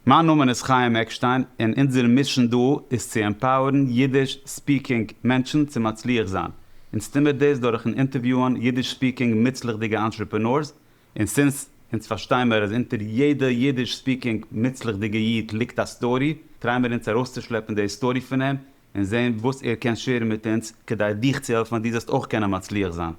מיין נאמען איז חיים עקשטיין און אונזער מישען דא איז צו עמפאוערן אידיש ספיקינג מענטשן צו מצליח זיין. אונז טומער דאס דורכן אינטערוויוען אידיש ספיקינג מוצלח'דיגע אנטרעפענארס און סינס אונז פארשטיימער אז אונטער יעדע אידיש ספיקינג מוצלח'דיגע איד ליגט א סטארי טריי מיר אונז ארויסצושלעפן די סטארי פון אים און זען וואס ער קען שעירן מיט אונז כדי דיך צו העלפן אז דו זאלסט אויך קענען מצליח זיין.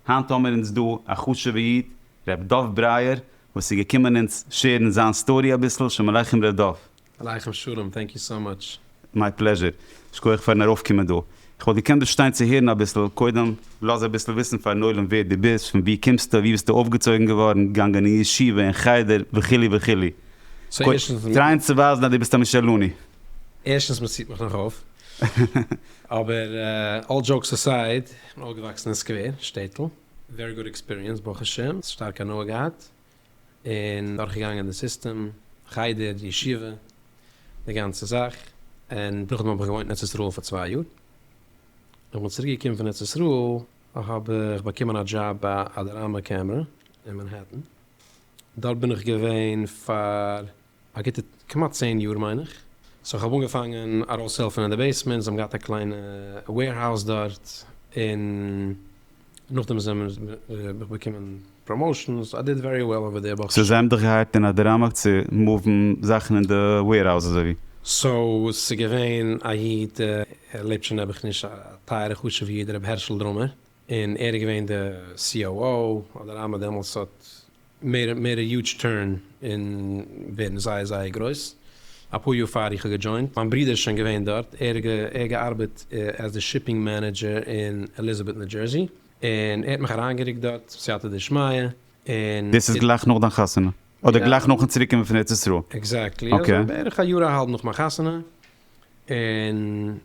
היינט האמיר אונז דא א חשוב'ע איד ר' דוב ברייער וואס איז געקומען אונז שעירן זיין סטארי אביסל, שלום עליכם ר' דוב. עליכם שלום, טענק יו סאו מאטש. מיי פלעזשער, שכוח פארן ארויף קומען דא. איך וואלט געקענט דא שטיין צו הערן אביסל, קודם לאז אביסל וויסן פארן עולם ווער דו ביסט, פון ווי קומסטו, ווי ביסטו אויפגעצויגן געווארן, געגאנגען אין ישיבה, אין חדר, וכו' וכו'. טרייען צו ווייזן אז דו ביסט א משה'לאני. ערשטנס מען ציט מיך נאך אויף, אבער אלל דזשאוקס אסייד, איך בין אויפגעוואקסן אין סקווער, שטעטל, ווערי גוד עקספיריענס ברוך השם, שטארק הנאה געהאט, און דורכגעגאנגען די סיסטעם, חדר, ישיבה, די גאנצע זאך, און נאכדעם האב איך געוואוינט אין ארץ ישראל פאר צוויי יאר, ווען כ'בין צוריק געקומען פון ארץ ישראל האב איך באקומען א דזשאב ביי אדאראמא קעמרע אין מאנהעטן, דארט בין איך געווען פאר א גוטע כמעט צען יאר מיין איך, סאו כ'האב אנגעפאנגען ארויסהעלפן אין די בעיסמענט, זיי האבן געהאט א קליינע וועירהאוז דארט, און נאכדעם זעמער האב איך באקומען פראמאושען, סאו איי דיד ווערי וועל אווער דער ברוך השם. סאו זיי האבן דיך געהייערט אין א דערהאמער צו מופן זאכן אין די וועירהאוז אזוי ווי? סאו ס'איז געווען א איד, ער לעבט שוין נעבעך נישט, א טייערע חשובע איד ר' הערשל דרומער, און ער איז געווען די COO, אדרמה דעמאלטס האט מעיד מעיד א יוטש טורן און ווערן זייער זייער גרויס, אפאר יאר פאר איך האב געדזשוינט, מיין ברודער איז שוין געווען דארט, ער האט געארבעט עז די שיפינג מענעדזשער אין עליזאבעט ניו דזשערסי, און ער האט מיך אריינגערוקט דארט סייעתא דשמיא, און. דאס איז גלייך נאך דיין חתונה? אדער גלייך נאכן צוריק קומען פון ארץ ישראל? עקזעקטלי, אזוי בערך א יאר אהאלב נאך מיין חתונה, און.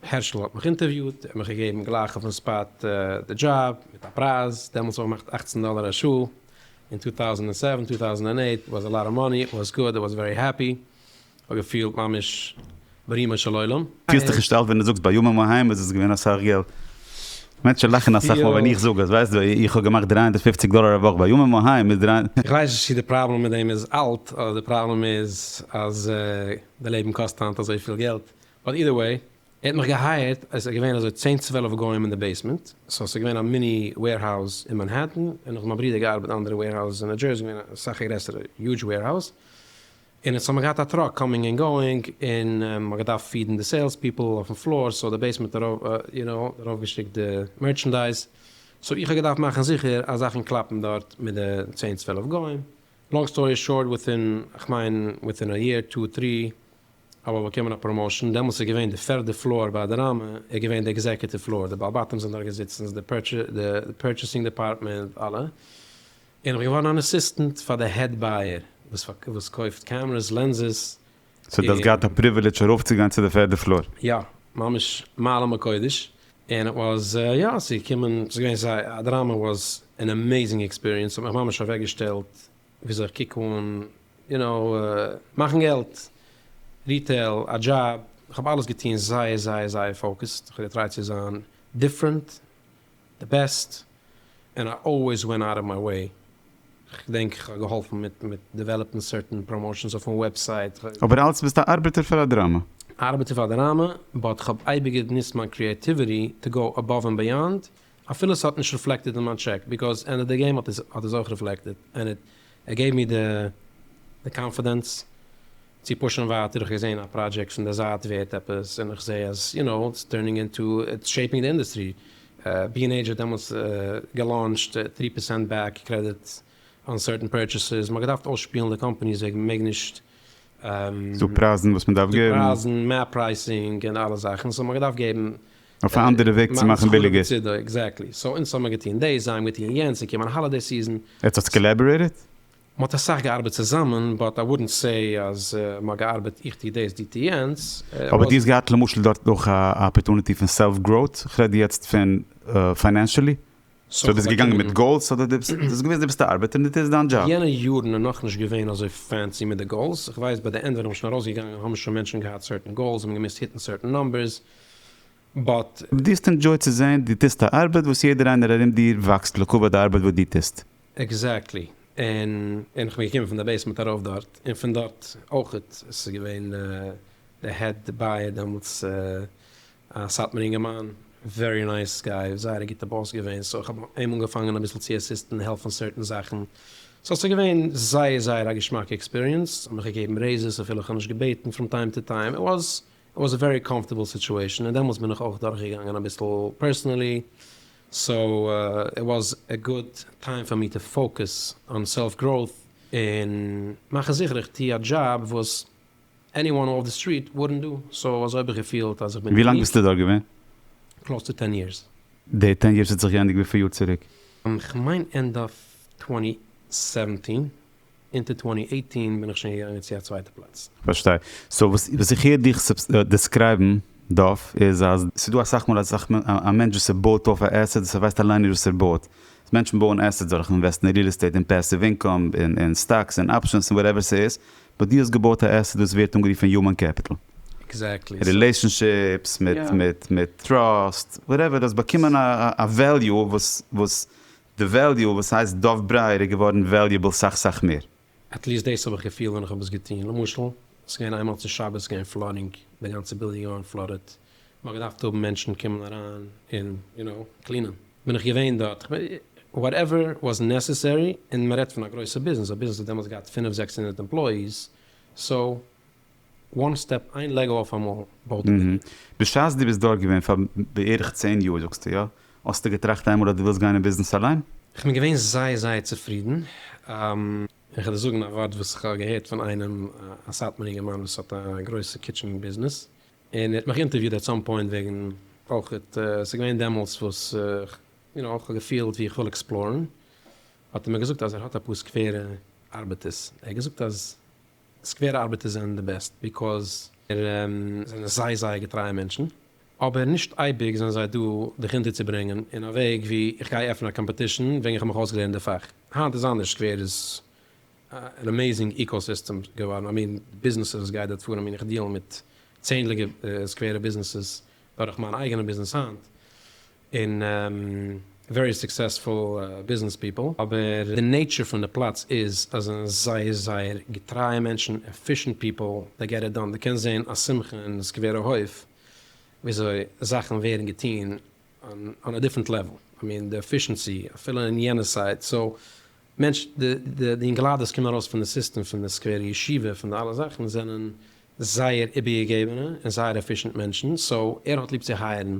הערשל האט מיך אינטערוויוט, ער האט מיך געגעבן גלייך אויפן ספאט די דזשאב, מיט א פרייז, דעמאלטס האב איך געמאכט אַכצן דאלער א שעה, אין טו טאוזענד און סעווען, טו טאוזענד אנד עיט, איט וואזע לאט אוו מאני, איט וואזע גוד, איי וואזע ווערי העפי, כ'האב געפילט ממש ברומו של עולם. פילסט דיך נישט אלט ווען דו זאגסט בימים ההם איז עס געווען אסאך געלט? מענטשן לאכן אסאך מאל ווען איך זאג עס, ווייסט דו איך האב געמאכט דרײַ הונדערט פֿופֿציק דאלער א וואך בימים ההם איז דרײַ. איך ווייס נישט צו די פראבלעם מיט דעם איז אלט, אדער די פראבלעם איז אז די לעבן קאסט היינט אזויפיל געלט, באט אידער וועי, ער האט מיך געהייערט, עס איז געווען אזוי צען צוועלף גוים אין די בעיסמענט, סאו עס איז געווען א מיני וועירהאוז אין מאנהעטן, און איך האב מיט מיין ברודער געארבעט אין אנדערע וועירהאוזעס אין ניו דזשערסי, געווען א סאך א גרעסערע יוזש וועירהאוז, און עס האט מען געהאט א טראק קאמינג ענד גאוינג, און מען האט געדארפט פידן די סעילס פיפל אויפן פלאר, סאו די בעיסמענט יו נאו, ארויף געשיקט די מערטשענדייז, סאו איך האב געדארפט מאכן זיכער אז זאכן קלאפן דארט מיט די צען צוועלף גוים, לאנג סטארי שארט וויטין כ'מיין וויטין א יער טו טרי אבער באקומען א פראמאשען, דעמאלס איז געווען די פערדע פלאר ביי אדאראמע איז געווען די עקזעקעטיוו פלאר, די בעל בתים זענען דארט געזיצן, די פורטשעסינג דעפארטמענט, אלע, און איך בין געווארן אן עסיסטענט פאר די העד בייער וואס קויפט קעמרעס, לענסעס, סאו דו האסט געהאט א פריווילידזש ארויפצוגיין צו די פערדע פלאר? יא, ממש מעלה מקודש, און איט וואס יא, צו קומען, ס'איז געווען זייער, אדאראמע וואס ען עמעיזינג עקספיריענס, ס'האט מיך ממש אוועקגעשטעלט וויאזוי איך קוק אן, יו נאו, מאכן געלט, ריטעיל, א דזשאב, איך האב אלעס געטון זייער זייער זייער פאוקעסד, איך האב געטרייט צו זיין דיפרענט, די בעסט, ענד איי אלוועיס ווענט אוט אוו מיי וועי, איך געדענק איך האב געהאלפן מיט מיט דעוועלאפן סערטען פראמאושענס אויפן וועבסייט, איך. אבער אלץ ביסטו א ארבעטער פאר א דראמא. ארבעטער פאר א דראמא, באט איך האב אייביג געניצט מיין קריעטיוויטי טו גאו עבאוו ענד בעיאנד, אפילו ס'האט נישט ריפלעקטעד אין מיין טשעק, ביקאוז ענדע די געים האט עס אויך ריפלעקטעד, ענד איט געב מיר די קאנפידענס צו פושען ווייטער, איך געזען א פראדזשעקט פון די זייט ווערט עפעס, און איך זעה אז יו נאו איטס טורנינג אינטו, איטס שעיפינג די אינדעסטרי, בי ענד עידזש האט דעמאלטס געלאונטשט טרי פערסענט בעק קרעדיט אן סערטען פורטשעסעס, מ'האט געדארפט אויסשפילן די קאמפעניס וועגן מ'מעג נישט דו פרייזן וואס מ'דארף געבן. דו פרייזן, מער פרייסינג און אלע זאכן, סאו מ'האט געדארפט געבן אויף א אנדערע וועג צו מאכן ביליגער. מאכן סחורה בצידו, עקזעקטלי. סאו אונז האמיר געטון דאס, זיי האבן געטון יענץ, ס'איז געקומען האלידעי סיזען. עטס האטס קאלעבערעיטעד? מ'האט אסאך געארבעט צוזאמען, באט איי וואודענט סעי אז מ'האט געארבעט איך טו דאס דו טו יענץ. אבער דו האסט געהאט למשל דארט אויך א אפערטוניטי פון סעלף גראוט, כ'רעד יעצט פון פיינענשעלי, סאו דו ביסט געגאנגען מיט גאולס אדער דו האסט געוואוסט דו ביסט א ארבעטער און דאס איז דיין דזשאב? יענע יארן איז נאכנישט געווען אזוי פענסי מיט די גאולס, כ'ווייס ביי די ענד ווען איך בין שוין ארויסגעגאנגען האבן שוין מענטשן געהאט סערטען גאולס, זיי האבן געמוזט היטן סערטען נאמבערס, באט. דו האסט ענדזשויט צו זען דו טוסט א ארבעט וואס יעדער איינער ארום דיר וואקסט לקבע די ארבעט וואס דו טוסט. עקזעקטלי, און און כ'בין געקומען פון די בעיסמענט ארויף דארט, און פון דארט אויכעט, עס איז געווען די העד בייער דעמאלטס א סאטמאר אינגערמאן, ווערי נייס גיי, זייער א גוטע באס געווען, סאו כ'האב אים אנגעפאנגען אביסל צו עסיסטן העלפן סערטען זאכן, סאו ס'איז געווען זייער זייער א געשמאקע עקספיריענס, האט מיך געגעבן רעיזעס אפילו כ'האב נישט געבעטן פראם טיים טו טיים, איט וואז' איט וואס א ווערי קאמפארטעבל סיטועשאן און דעמאלטס בין איך אויך דורך געגאנגען אביסל פערסענעלי סאו איט וואס א גוד טיים פאר מי טו פאוקעס אן סעלף גראוט און מאכן זיכער איך טו א דזשאב וואס עני וואן אףף די סטריט וואודענט דא סאו אזוי האב איך געפילט אז איך בין ווי לאנג ביסטו דארט געווען? קלאוס טו טען יערס. די טען יערס האט זיך געענדיגט וויפיל יאר צוריק? כ'מיין ענד אף טווענטי סעווענטין. אונטער טווענטי עיטין בין איך שוין געגאנגען צו א צווייטע פלאץ. פארשטיי. סאו וואס איך הער דיך דעסקרייבן דא איז אז. ס'דא אסאך מאל אז א מענטש וואס ער בויט אויף א עסעט וואס ער ווייסט אליין נישט וואס ער בויט. מענטשן בויען עסעטס דורך אינוועסטן אין ריעל עסטעיט און פעסיוו אינקאם און סטאקס און אפשענס און וואטעווער ס'איז. באט דו האסט געבויט א עסעט וואס ווערט אנגערופן יומען קעפיטל. עקזעקטלי. רילעישאנשיפס מיט טראסט וואטעווער. דו האסט באקומען א וועליו וואס. די וועליו וואס הייסט דוב ברייער איז געווארן וועליעבל סאך סאך מער. עט ליעסט דאס האב איך געפילט ווען איך האב עס געטון. למשל, עס געווען איינמאל צו שבת געווען פלאדינג, די גאנצע בילדינג געווארן פלאדעד, מען האט געדארפט האבן מענטשן קומען אריין און יו נאו קלינען, בין איך געווען דארט, איך בין וואטעווער וואס נעסעסערי, און מען רעדט פון א גרויסע ביזנעס, א ביזנעס האט דעמאלטס געהאט פינף זעקס הונדערט עמפלאיס, סאו. וואן סטעפ איין לעגא אויפאמאל בארט עוועי. בשעת דו ביסט דארט געווען פאר בערך צען יאר זאגסטו יא? האסטו געטראכט איינמאל אז דו ווילסט גיין אין ביזנעס אליין? איך בין געווען זייער זייער צופרידן. איך וועל דיר זאגן א ווארט וואס איך האב געהערט פון איינעם א סאטמארע אינגערמאן וואס האט א גרויסע קיטשען ביזנעס און ער האט מיך אינטערוויוד עט סאם פוינט וועגן אויכעט ס'איז געווען דעמאלטס וואס איך יו נאו איך האב געפילט ווי איך וויל עקספלארן האט ער מיר געזאגט אז ער האט אפאר סקווערע ארבעטערס ער האט געזאגט אז סקווער ארבעטער זענען די בעסט ביקאוז זענען זיי זייער געטרייע מענטשן אבער נישט אייביג זענען זיי דא דיך אינטערצוברענגען אין א וועג ווי איך גיי עפענען א קאמפעטישן וועגן איך האב מיך אויסגעלערנט די פאך. היינט איז אנדערש סקווער איז אן אמעיזינג איקאוסיסטעם געווארן איי מין ביזנעסערס גייט דארט פאר איי מין איך דיעל מיט צענדליגע סקווערע ביזנעסעס דורך מיין אייגענע ביזנעס היינט. און ווערי סוקסעספול ביזנעס פיפל, אבער די נעיטשער פון די פלאץ איז אז זיי זענען זייער זייער געטרייע מענטשן, עפישענט פיפל, זיי געט איט דאן, די קענסט זעהן א שמחה אין סקווערע הויף וויאזוי זאכן ווערן געטון אן א דיפרענט לעוול, איי מין די עפישענסי אפילו אין יענע סייט, סאו מענטש די די אינגעליידערס קומען ארויס פון די סיסטעם פון די סקווערע ישיבה פון די אלע זאכן זענען זייער איבערגעגעבענע און זייער עפישענט מענטשן, סאו ער האט ליב צו הייערן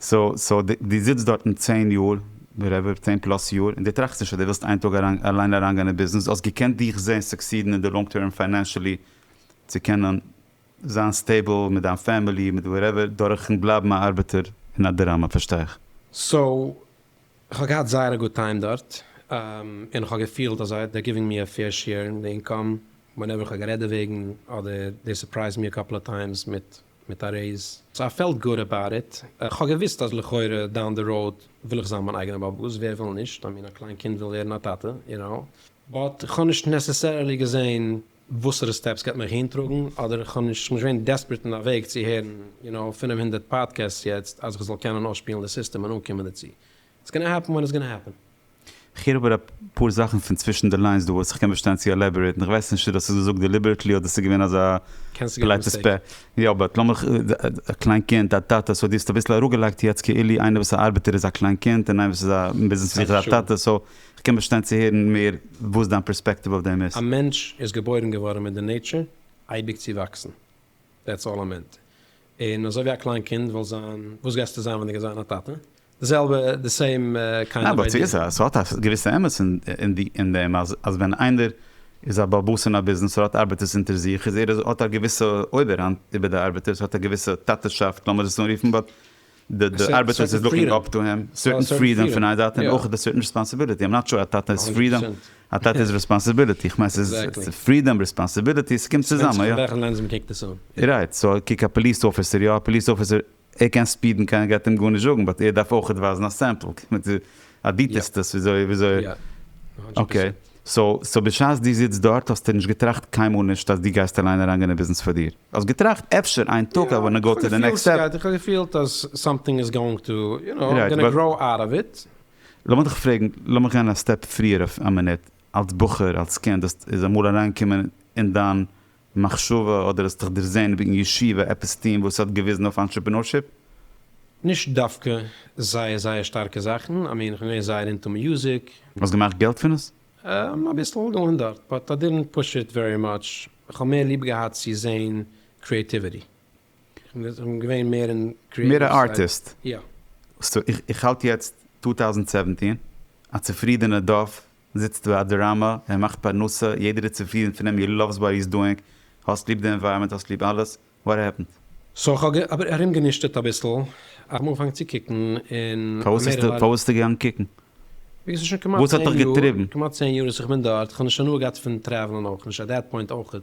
סאו דו זיצט דארטן צען יאר, וואטעווער, צען פלאס יאר, און דו טראכסט נישט אז דו ווילסט איין טאג אליין אריינגיין אין ביזנעס, דו האסט געקענט דיך זען סוקסידן אין די לאנג טערם פיינענשעלי צו קענען זיין סטעיבל מיט דיין פעמילי מיט וואטעווער דורכן בלייבן א ארבעטער אין א דירה, פארשטיי איך. סאו כ'האב געהאט זייער א גוד טיים דארט, און כ'האב געפילט אז זיי דער גיווינג מי א פעיר שעיר אין די אינקאם, ווענעווער כ'האב גערעדט דערוועגן אדער דעי סורפרייזד מי א קאפל אוו טיימס מיט מיט א רעיז. סאו איי פעלט גוד אבאוט איט. כ'האב געוויסט אז לכאורה דאון די ראוד וויל איך זיין מיין אייגענע באבע וואס ווער וויל נישט, איי מין א קליין קינד וויל ווערן א טאטע, יו נאו. באט כ'האב נישט נעסעסערעלי געזעהן וואסערע סטעפס גייט מיך אהין טראגן, אדער כ'האב נישט כ'בין נישט געווען דעספערעט אין א וועג צו הערן יו נאו פֿינף הונדערט פאדקעסטס יעצט אז כ'זאל קענען אויסשפילן די סיסטעם און אנקומען דערצו. איטס גאנא העפן ווען איטס גאנא העפן. כ'הער אבער אפאר זאכן פון צווישן די ליינס דא וואס איך קען באשטיין צו עלעבארעיטן, איך ווייס נישט צו דאס איז געזאגט דעליבערעטלי אדער ס'איז געווען אזא פאלייטע ספעל. יא באט לאמיך, א קליין קינד, א טאטע, סאו דו האסט אביסל אראפגעלייגט יעצט כאילו איינער וואס א ארבעטער איז א קליין קינד און איינער וואס איז א אין ביזנעס איז א טאטע, סאו כ'קען באשטיין צו הערן מער וואס דיין פערספעקטיוו אויף דעם איז. א מענטש איז געבוירן געווארן מיט די נעיטשער אייביג צו וואקסן, דעטס אלל א מענטע און אזוי ווי א קליין קינד וויל זיין, וואס גייסטו זיין ווען דו גייסט זיין א טאטע? די זעלבע, די סעים קיינד אוו איידיע. ניין, באט ס'האט א געוויסע אמת אין דעם, אז ווען איינער איז א באבוס אין א ביזנעס, ער האט ארבעטערס אונטער זיך, איז ער האט א געוויסע אויבערהאנט איבער די ארבעטערס, האט א געוויסע טאטע'שאפט, לאמיר עס אנרופן, באט די ארבעטער איז לוקינג אפ טו הים, סערטען פרידאם פון איין זייט און אויך די סערטען רעספאנסיביליטי, איים נאט שור א טאטע איז פרידאם, א טאטע איז רעספאנסיביליטי, איך מיין ס'איז פרידאם רעספאנסיביליטי ס'קומט צוזאמען יא. וועלכע לענס מ'קוקט עס אן. רייט, סאו קוק א פאליס אפיסער, יא א פאליס אפיסער ער קען ספידן קיינער גייט אים גארנישט זאגן באט ער דארף אויכעט ווייזן א סעמפל, עדיטסט עס וויאזוי וויאזוי יא הונדרעט פארסענט אקעי סאו סאו בשעת דו זיצט דארט האסטו נישט געטראכט קיינמאל נישט אז דו גייסט אליין אריינגיין אין ביזנעס פאר דיר? האסט געטראכט אפשר איין טאג איי וואנט טו גאו טו די נעקסט סטעפ? איך האב געפילט אז סאמטינג איז גאוינג טו יו נאו איים גאנא גראו אוט אוו איט. לאמיר דיך פרעגן, לאמיר גיין א סטעפ פריער אויף א מינוט, אלס בחור אלס קינד האסט איז אמאל אריינגעקומען אין דיין מחשבה אדער האסט דיך דערזען וועגן ישיבה עפעס טוהן וואס האט געוויזן אויף אנטרעפענורשיפ? נישט דווקא זייער זייער שטארקע זאכן, I mean כ'בין געווען זייער אינטו מיוזיק. האסט געמאכט געלט פון עס? אהמ אביסל געלערנט דארט, באט איי דידנט פוש איט ווערי מאטש, כ'האב מער ליב געהאט צו זעהן קריעטיוויטי, כ'בין געווען מער אין קריעטיוו סייד. מער א ארטיסט? יא. סאו איך האלט יעצט טו טאוזענד סעווענטין א צופרידענע דארף זיצט ביי א דראמא, ער מאכט פרנסה, יעדער איז צופרידן פון אים, יו לאווס וואט היז דואינג, האסט ליב די ענווייראמענט, האסט ליב אלעס, וואט העפענד? סאו כ'האב אבער ארום גענישטערט אביסל, כ'האב אנגעפאנגען צו קוקן און אמעריקע ווייל. פארוואס ביסטו געגאנגען קוקן? ביז ס'איז שוין כמעט צען יאר, כמעט צען יאר וואס איך בין דארט, כ'האב נישט הנאה געהאט פון טרעוולען אויך נישט, עט דעט פוינט אויכעט.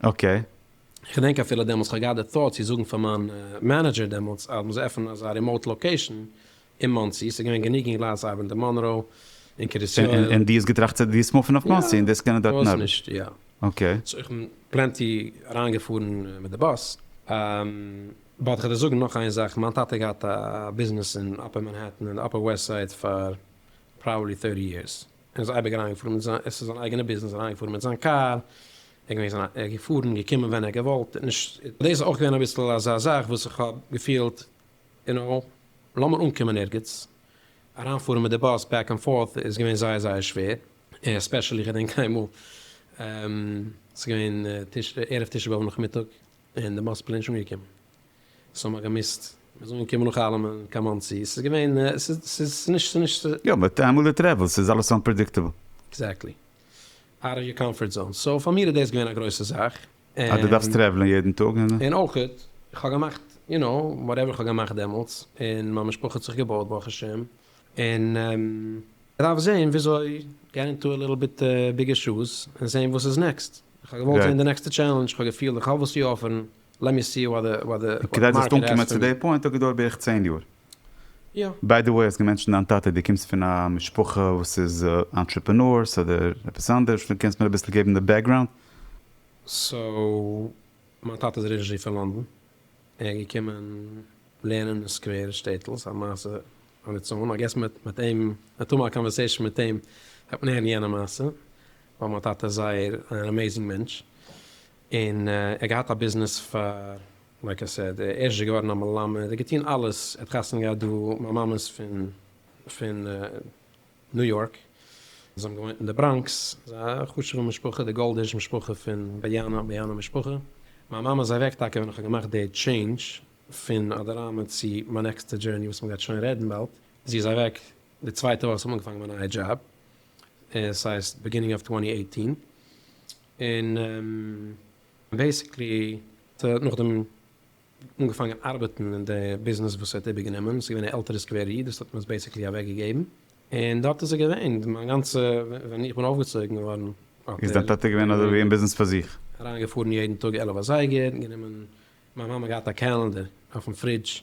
אקעי. כ'געדענק אפילו דעמאלטס כ'האב געהאט די thought צו זאגן פאר מיין מענעדזשער דעמאלטס אז מ'זאל עפענען אזא רימאוט לאקעישן אין מאנסי, ס'איז געווען גענוג אינגלייט צו ארבעטן אין מאנרא און קרית יואל. און דו האסט געטראכט צו דו וועסט מופן אויף מאנסי און דאס קענען דארטן ארבעטן? פארוואס נישט, יא. אקעי. סאו איך בין פלענטי אריינגעפארן מיט די באס. באט כ'וועל דיר זאגן נאך איין זאך, מיין טאטע האט געהאט א ביזנעס אין אפער מאנהעטן און די אפער וועסט סייד פאר פראבעבלי טורטי יערס. ער איז אייביג אריינגעפארן מיט זיין, עס איז זיין אייגענע ביזנעס, אריינגעפארן מיט זיין קאר, ער איז געווען זיין, ער איז געפארן, געקומען ווען ער האט געוואלט, נישט, דאס איז אויך געווען אביסל אזא זאך וואס איך האב געפילט, יו נאו, לאמיר אנקומען ערגעץ, אריינפארן מיט די באס בעק ענד פארט איז געווען זייער זייער שווער, עספעשעלי איך געדענק איינמאל, ס'איז געווען ערב תשעה באב נאכמיטאג, און די באס איז פלעין נישט אנגעקומען, סאו מ'האט געמוזט מ'איז אנגעקומען נאך אלעמען קיין מאנסי, ס'איז געווען ס'איז נישט. יא באט איינמאל די טרעוועלסט איז אלעס אנפרעדיקטעבל. עקזעקטלי. אוט אוו יור קאמפארט זאון. סאו פאר מיר איז דאס געווען א גרויסע זאך. אז דו דארפסט טרעוולען יעדן טאג און. און אויך איך האב געמאכט יו נאו וואטעווער איך האב געמאכט דעמאלטס און מיין משפחה האט זיך געבויט ברוך השם און. כ'דארף זעהן וויאזוי געט אינטו א ליטל ביט ביגער שוז און זעהן וואס איז נעקסט. כ'האב געוואלט זעהן די נעקסטע טשעלענדזש, כ'האב געפילט כ'האב וואס צו אפערן. כדי זאלסט אנקומען צו די פוינט האט געדויערט בערך צען יאר. ביי די וועי האסט געמענטשענט דיין טאטע, דו קומסט פון א משפחה וואס איז אנטרעפענארס אדער עפעס אנדערש, דו קענסט מיר אביסל געבן די בעקגראונד? סאו מיין טאטע איז אריג'נעלי פון לאנדאן, ער איז געקומען לערנען אין א סקווער שטעטל, ס'איז א מעשה אן איטס און, איי געס מיט אים, מטאמאל א קאנווערסעישאן מיט אים וועט מען הערן יענע מעשה, ווייל מיין טאטע איז זייער אן אמעיזינג מענטש, און ער געהאט א ביזנעס פאר לייק איי סעד, ער איזשע געווארן א מלמד, ער האט געטון אלעס, ער האט חתונה געהאט דא, מיין מאמע איז פון פון ניו יארק, זיי האבן געוואוינט אין די בראנקס, זיי א חשובע משפחה, די גאלדיש משפחה פון באיאנא, באיאנא משפחה, מיין מאמע איז אוועק טאקע ווען איך האב געמאכט די טשעינדזש פון אדאראמע צו מיין נעקסטע דזשערני וואס מען גייט שוין רעדן באלד, זי איז אוועק די צווייטע וואך איך האב אנגעפאנגען מיין נייע דזשאב, עס הייסט בעגינינג אוו טווענטי עיטין. און בעיסיקלי האט ער נאכדעם אנגעפאנגען ארבעטן אין די ביזנעס וואס ער האט איבערגענומען, ס'איז געווען א עלטערע סקווער איד וואס האט אים עס בעיסיקלי אוועקגעגעבן, און דארט איז ער געווען מיין גאנצע, ווען איך בין אויפגעצויגן געווארן האט איז דיין ער טאטע געווען אזויווי אין ביזנעס פאר זיך? אריינגעפארן יעדן טאג עלף אזייגער, גענומען, מיין מאמע האט געהאט א קעלענדער אויפן פרידזש,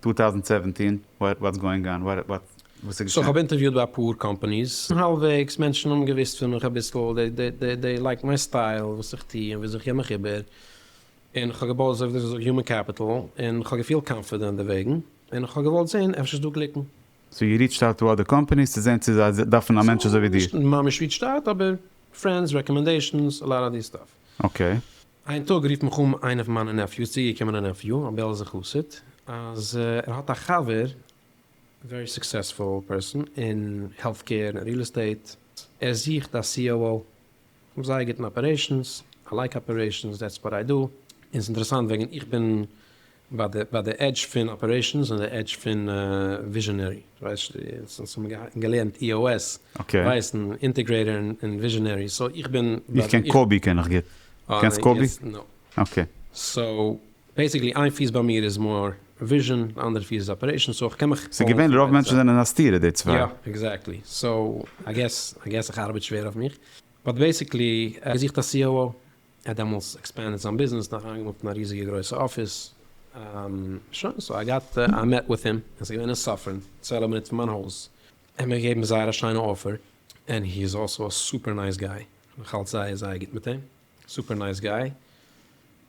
טו טאוזענד סעווענטין וואטס גאוינג אן וואט וואט וואס איז געשען? סאו איך האב אינטערוויוט ביי אפאר קאמפאניס, האלבוועגס, מענטשן האבן געוואוסט פון מיך אביסל, דעי לייקט מיין סטייל, וואס איך טו און וויאזוי איך גיב מיך איבער, און איך האב געבויט אזוי ווי דאס איז הומען קעפיטעל, און איך האב געפילט קאנפידענט דערוועגן, און איך האב געוואלט זען אפשר איז דא גליקן. סאו יו ריעטשט אוט טו אדער קאמפאניס צו זען צו זיי דארפן א מענטש אזוי ווי דיר? נישט ממש ריעטשט אוט אבער פרענדס, רעקאמענדעישאנס, א לאט אוו די סטאף. אקעי. איין טאג רופט מיך אן איינע פון מיינע נעפיוס, צוגעקומענע נעפיו, א בעלזע חסיד, אז ער האט א חבר, ווערי סוקסעספול פערסאן אין העלט קעיר און ריעל עסטעיט, ער זוכט א COO, כ'האב זייער גוטן אפערעישאנס, איי לייק אפערעישאנס, דעטס וואט איי דא, און ס'אינטערעסאנט וועגן איך בין ביי די עדזש פון אפערעישאנס און די עדזש פון וויזשענערי, דו ווייסט אונז האבן געלערנט אי או עס, ווייסן אינטעגרעיטאר און וויזשענערי, סאו איך בין. איך קען קאבי קען איך גוט, קענסט קאבי? אקעי. סאו בעסיקלי איין פיס ביי מיר איז מאר וויזשען די אנדערע פיס איז אפערעישאנס, סאו איך קען מיך. ס'איז געווענליך רוב מענטשן זענען א סתירה די צוויי. יא עקזעקטלי, סאו איי געס איך ארבעט שווער אויף מיך, באט בעסיקלי איך זיך א סי או או. ער האט דעמאלס עקספענדעד זיין ביזנעס נאך איינגעמאלט אין א ריזיגע גרויסע אפיס, שוין סאו איי גאט איי מעט וויט הים, עס איז געווען אין סאפרען, צוועלף מינוט פון מיין הויז, ער האט מיר געגעבן זייער א שיינע אופער, ענד הי איז אלסא א סופער נייס גיי, איך האלט זייער זייער גוט מיט אים, סופער נייס גיי,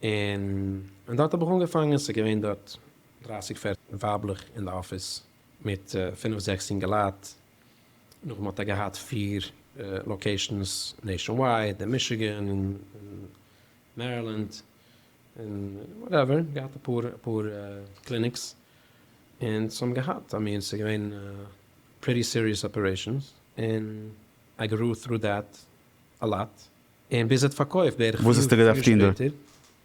און און דארט האב איך אנגעפאנגען, עס איז געווען דארט דרייסיג פערציג ווייבלעך אין די אפיס, מיט פינף זעקס יונגעלייט, נאכדעם האט ער געהאט פיר לאקעישאנס נעישאנווייד, אין מישיגען, אין מערילענד, און וואטעווער, געהאט אפאר קליניקס, און ס'האבן געהאט, איי מין ס'איז געווען פריטי סיריעס אפערעישאנס, און איי גרו טרו דעט א לאט, און ביז ער האט פארקויפט בערך פיר יאר שפעטער.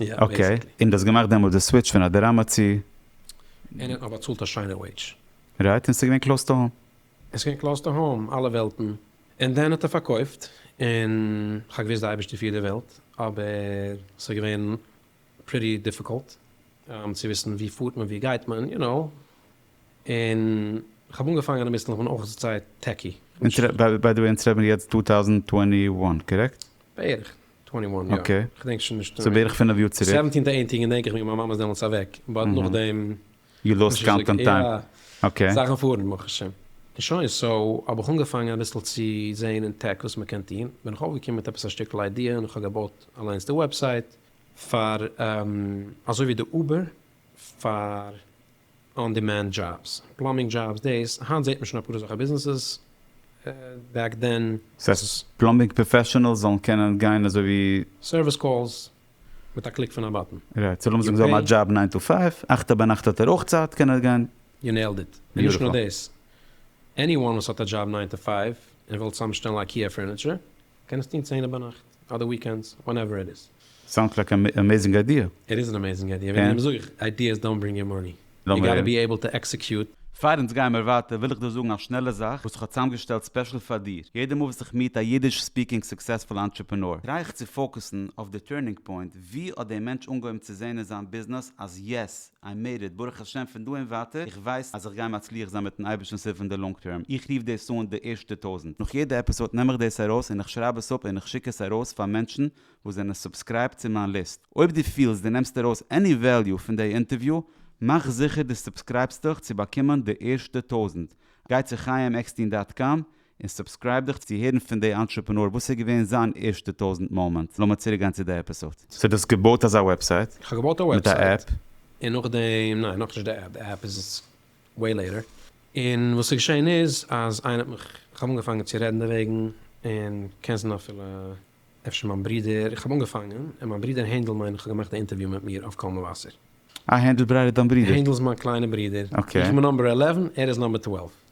אקעי, און דו האסט געמאכט דעמאלטס די סוויטש פון א דראמא צו. און איך האב באצאלט א שיינע וועידזש. רייט, און ס'איז געווען קלאוס טו האום. עס איז געווען קלאוס טו האום, אלע וועלטן. און דאן האט ער פארקויפט, און כ'האב געוואוסט די אייבערשטער פירט די וועלט, אבער ס'איז געווען פריטי דיפיקולט צו וויסן וואו פארט מען, וואו גייט מען, יו נאו. און כ'האב אנגעפאנגען אינמיטן, כ'בין אויך זייער טעקי. ביי די וועי אונז רעדן מיר יעצט צוויי טויזנט צוואַנציק איין, קארעקט? בערך. אקעי, ס'בערך פינף יאר צוריק. שוין, סאו האב איך אנגעפאנגען אביסל צו זעהן אין טעק וואס מ'קען טוהן, בין איך אויפגעקומען מיט עפעס א שטיקל איידיע און כ'האב געבויט אליינס די וועבסייט פאר אזוי ווי די uber פאר. אן דימענד דזשאבס, פלאמבינג דזשאבס, דאס היינט זעט מען שוין אפאר אזעלכע ביזנעסעס, בעק דען וואס עס. פלאמבינג פראפעשענעלס זאלן קענען גיין אזוי ווי. סערוויס קאלס מיט א קליק פון א באטן. רייט, סאו לאמיר זאגן זיי האבן א דזשאב ניין טו פייוו, אכט א ביינאכט האט ער אויך צייט קען ער גיין. יו נעילד איט, און נישט נאר דאס, עני וואן וואס האט א דזשאב ניין טו פייוו און וויל צוזאם שטעלן אייקיע פורניטשער קען עס טון צענע ביינאכט אדער וויקענדס ווענעווער איט איז. סאונדס לייק אן אמעזינג איידיע. איט איז אן אמעזינג איידיע, וועגן דעם זאג איך, איידיעס דאונט ברינג יו מאני, יו גאטע בי עיבל טו עקסעקיוט. פאר אונז גייען מיר ווייטער וויל איך דיר זאגן א שנעלע זאך וואס איך האב צוזאמגעשטעלט ספעשל פאר דיר, יעדע מאל וואס איך מיעט א אידיש ספיקינג סוקסעספול ענטרעפענאר טריי איך צו פאוקעסן אויף די טורנינג פוינט, ווי האט דער מענטש אנגעהויבן צו זעהן אין זיין ביזנעס אז יעס, איי מעיד איט, ברוך השם פון דא און ווייטער איך ווייס אז איך גיי מצליח זיין מיטן אייבערשטנ'ס הילף אין די לאנג טערם, איך רוף דאס אן די ערשטע טויזענט, נאך יעדע עפיסאד נעם איך דאס ארויס און איך שרייב עס אפ און איך שיק עס ארויס פאר מענטשן וואס זענען סובסקרייבט צו מיין ליסט, אויב דו פילסט דו נעמסט ארויס עני וועליו פון דעי אינטערוויו מאך זיכער דו סובסקרייבסט דיך צו באקומען די ערשטע טויזענט, גיי צו חיים עקסטין דאט קאם און סובסקרייב דיך צו הערן פון די אנטרעפענאר וואס איז געווען זיין ערשטע טויזענט מאמענט. לאמיר צוריק גיין צו די עפיסאד. סאו דו האסט געבויט אזא וועבסייט? איך האב געבויט א וועבסייט און נאכדעם, ניין נאכנישט די עפפ, די עפפ איז וועי לעיטער, און וואס איז געשען איז אז איינער האט מיך, איך האב אנגעפאנגען צו רעדן דערוועגן, און קענסט דען אפילו אפשר מיין ברודער, איך האב אנגעפאנגען, און מיין ברודער הענדל מיין איך האט געמאכט א אינטערוויו מיט מיר אויף קול מבשר. אה הענדל ברייט איז דיין ברודער? הענדל איז מיין קליינע ברודער, איך בין נאמבער עלעווען ער איז נאמבער טוועלוו.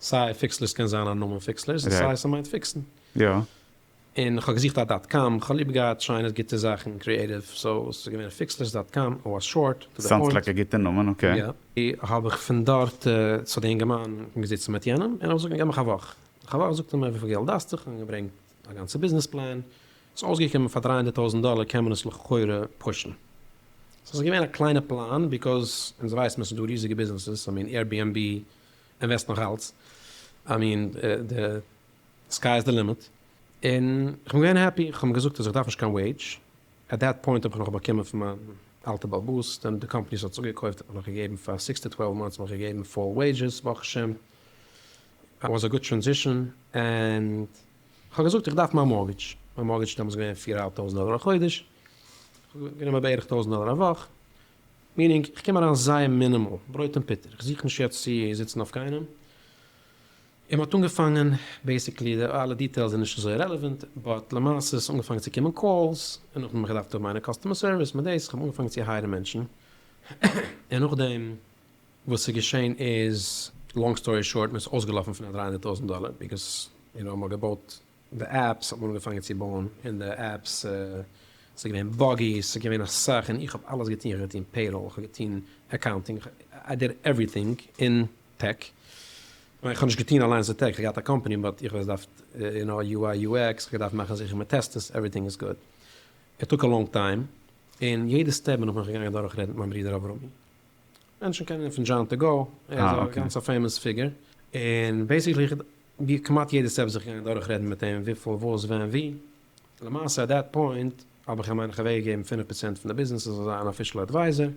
סיי פיקסלערס קען זיין א נאמען פיקסלערס און סיי ס'מיינט פיקסן. יא. און כ'האב געזוכט א דאט קאם, כ'האב ליב געהאט שיינע גוטע זאכן, קריעטיוו, סאו עס איז געווען פיקסלערס דאט קאם, עס וואס שארט טו דע פוינט. סאונדס לייק א גוטע נאמען, אקעי. יא. האב איך פון דארט צו די אינגערמאן, איך בין געזיצן מיט יענעם און ער האט געזאגט געב מיך א וואך. נאך א וואך זאגט ער מיר וויפיל געלט דארפסטו, כ'האב אים געברענגט א גאנצע ביזנעס פלאן, ס'איז אויסגעקומען פאר דרײַ הונדערט טויזנט דאלער קען מען עס לכאורה פושן. סאו ס'איז געווען א קליינע פלאן, ביקאוז אונז ווייסן עס איז דא ריזיגע ביזנעסעס, א מין עירביענבי, און וועסט נאך אלץ, איי מין די סקיי איז די לימיט, און איך בין געווען העפי, כ'האב אים געזאגט אז איך דארף נישט קיין וועידזש, עט דעט פוינט האב איך נאך באקומען פון מיין אלטע בעל בית, דען די קאמפאני וואס האט עס אפגעקויפט האט מיר נאך געגעבן פאר סיקס טו טוועלוו מאנטס האט מיר געגעבן פול וועידזשעס, ברוך השם, עט וואס א גוד טרענזישאן, און כ'האב געזאגט איך דארף מיין מארטגעדזש, מיין מארטגעדזש איז דעמאלס געווען פֿיר אהאלב טויזנט דאלער א חודש, כ'האב גענומען בערך טויזנט דאלער א וואך, מינינג, איך קום אריין זייער מינימאל, ברויט און פוטער, איך זוך נישט יעצט צו זיצן אויף קיינעם, און מ'האט אנגעפאנגען, בעיסיקלי די אלע דיטעילס זענען נישט אזוי רעלעווענט, באט למעשה איז אנגעפאנגען צו קומען קאלס, און נאכדעם האב איך געדארפט האבן איינער קאסטומער סערוויס מיט דאס, איך האב אנגעפאנגען צו הייערן מענטשן, און נאכדעם וואס ס'איז געשען איז, לאנג סטארי שארט, מ'איז אויסגעלאפן פון א דרײַ הונדערט טויזנט דאלער, ביגאס יו נאו מ'האט געבויט די עפפס האט מען אנגעפאנגען צו בויען און די עפפס ס'איז געווען באגי ס'איז געווען אסאך און איך האב אלעס געטון איך האב געטון פעיראל איך האב געטון אקאונטינג איך האב איי דיד עווריטינג אין טעק נאר איך האב נישט געטון אליינס די טעק איך האב געהאט א קאמפעני באט איך האב עס געדארפט יו נאו יו איי יו עקס איך האב געדארפט מאכן זיכער מ'טעסט עס עווריטינג איז גוד איט טאק א לאנג טיים און יעדע סטעפ בין איך מיך געגאנגען דורכרעדן מיט מיין ברודער אברמי מענטשן קענען אים פון דזשאן טו גאו, ער איז א גאנץ א פעימאס פיגור, און בעיסיקלי איך האב כמעט יעדע סטעפ זיך געגאנגען דורך רעדן מיט אים וויפיל וואס ווען ווי, למעשה עט דעט פוינט האב איך אים מיין איך אוועק געגעבן פֿינף פראצענט פון די ביזנעס ער זאל זיין אן אפישעל עדווייזער,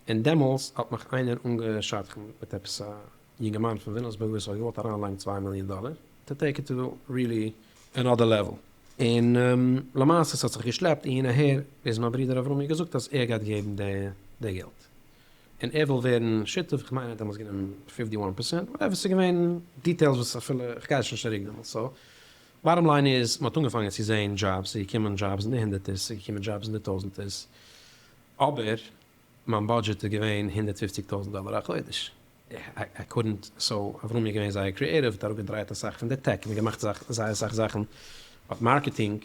און דעמאלס האט מיך איינער אנגעשדכנ'ט מיט עפעס א יונגערמאן פון ווילאמסבורג וואס האט געוואלט אריינלייגן צוויי מיליאן דאלער טו טעיק איט טו ריעלי ענאדער לעוועל, און למעשה ס'האט זיך געשלעפט אהין אהער ביז מיין ברודער אברומי האט געזאגט אז ער גייט געבן די געלט, און ער וויל ווערן שותף, איך מיין ער האט דעמאלטס גענומען פיפטי וואן פערסענט, וואטעווער, ס'איז געווען דיטעילס וואס אפילו איך גיי עס נישט צוריק דעמאלטס, סא באטאם ליין איז מ'האט אנגעפאנגען צו זען דזשאבס, ס'איז געקומען דזשאבס אין די הונדערטערס, ס'איז געקומען דזשאבס אין די טויזענטערס, אבער מיין בודזשעט איז געווען הונדערט פופציג טויזענט דאלער א חודש, איי קודנט, סא אברומי איז געווען זייער קריעטיוו, האט אראפגעדרייט אסאך פון די טעק, מ'האט געמאכט זייער אסאך זאכן אויף מארקעטינג,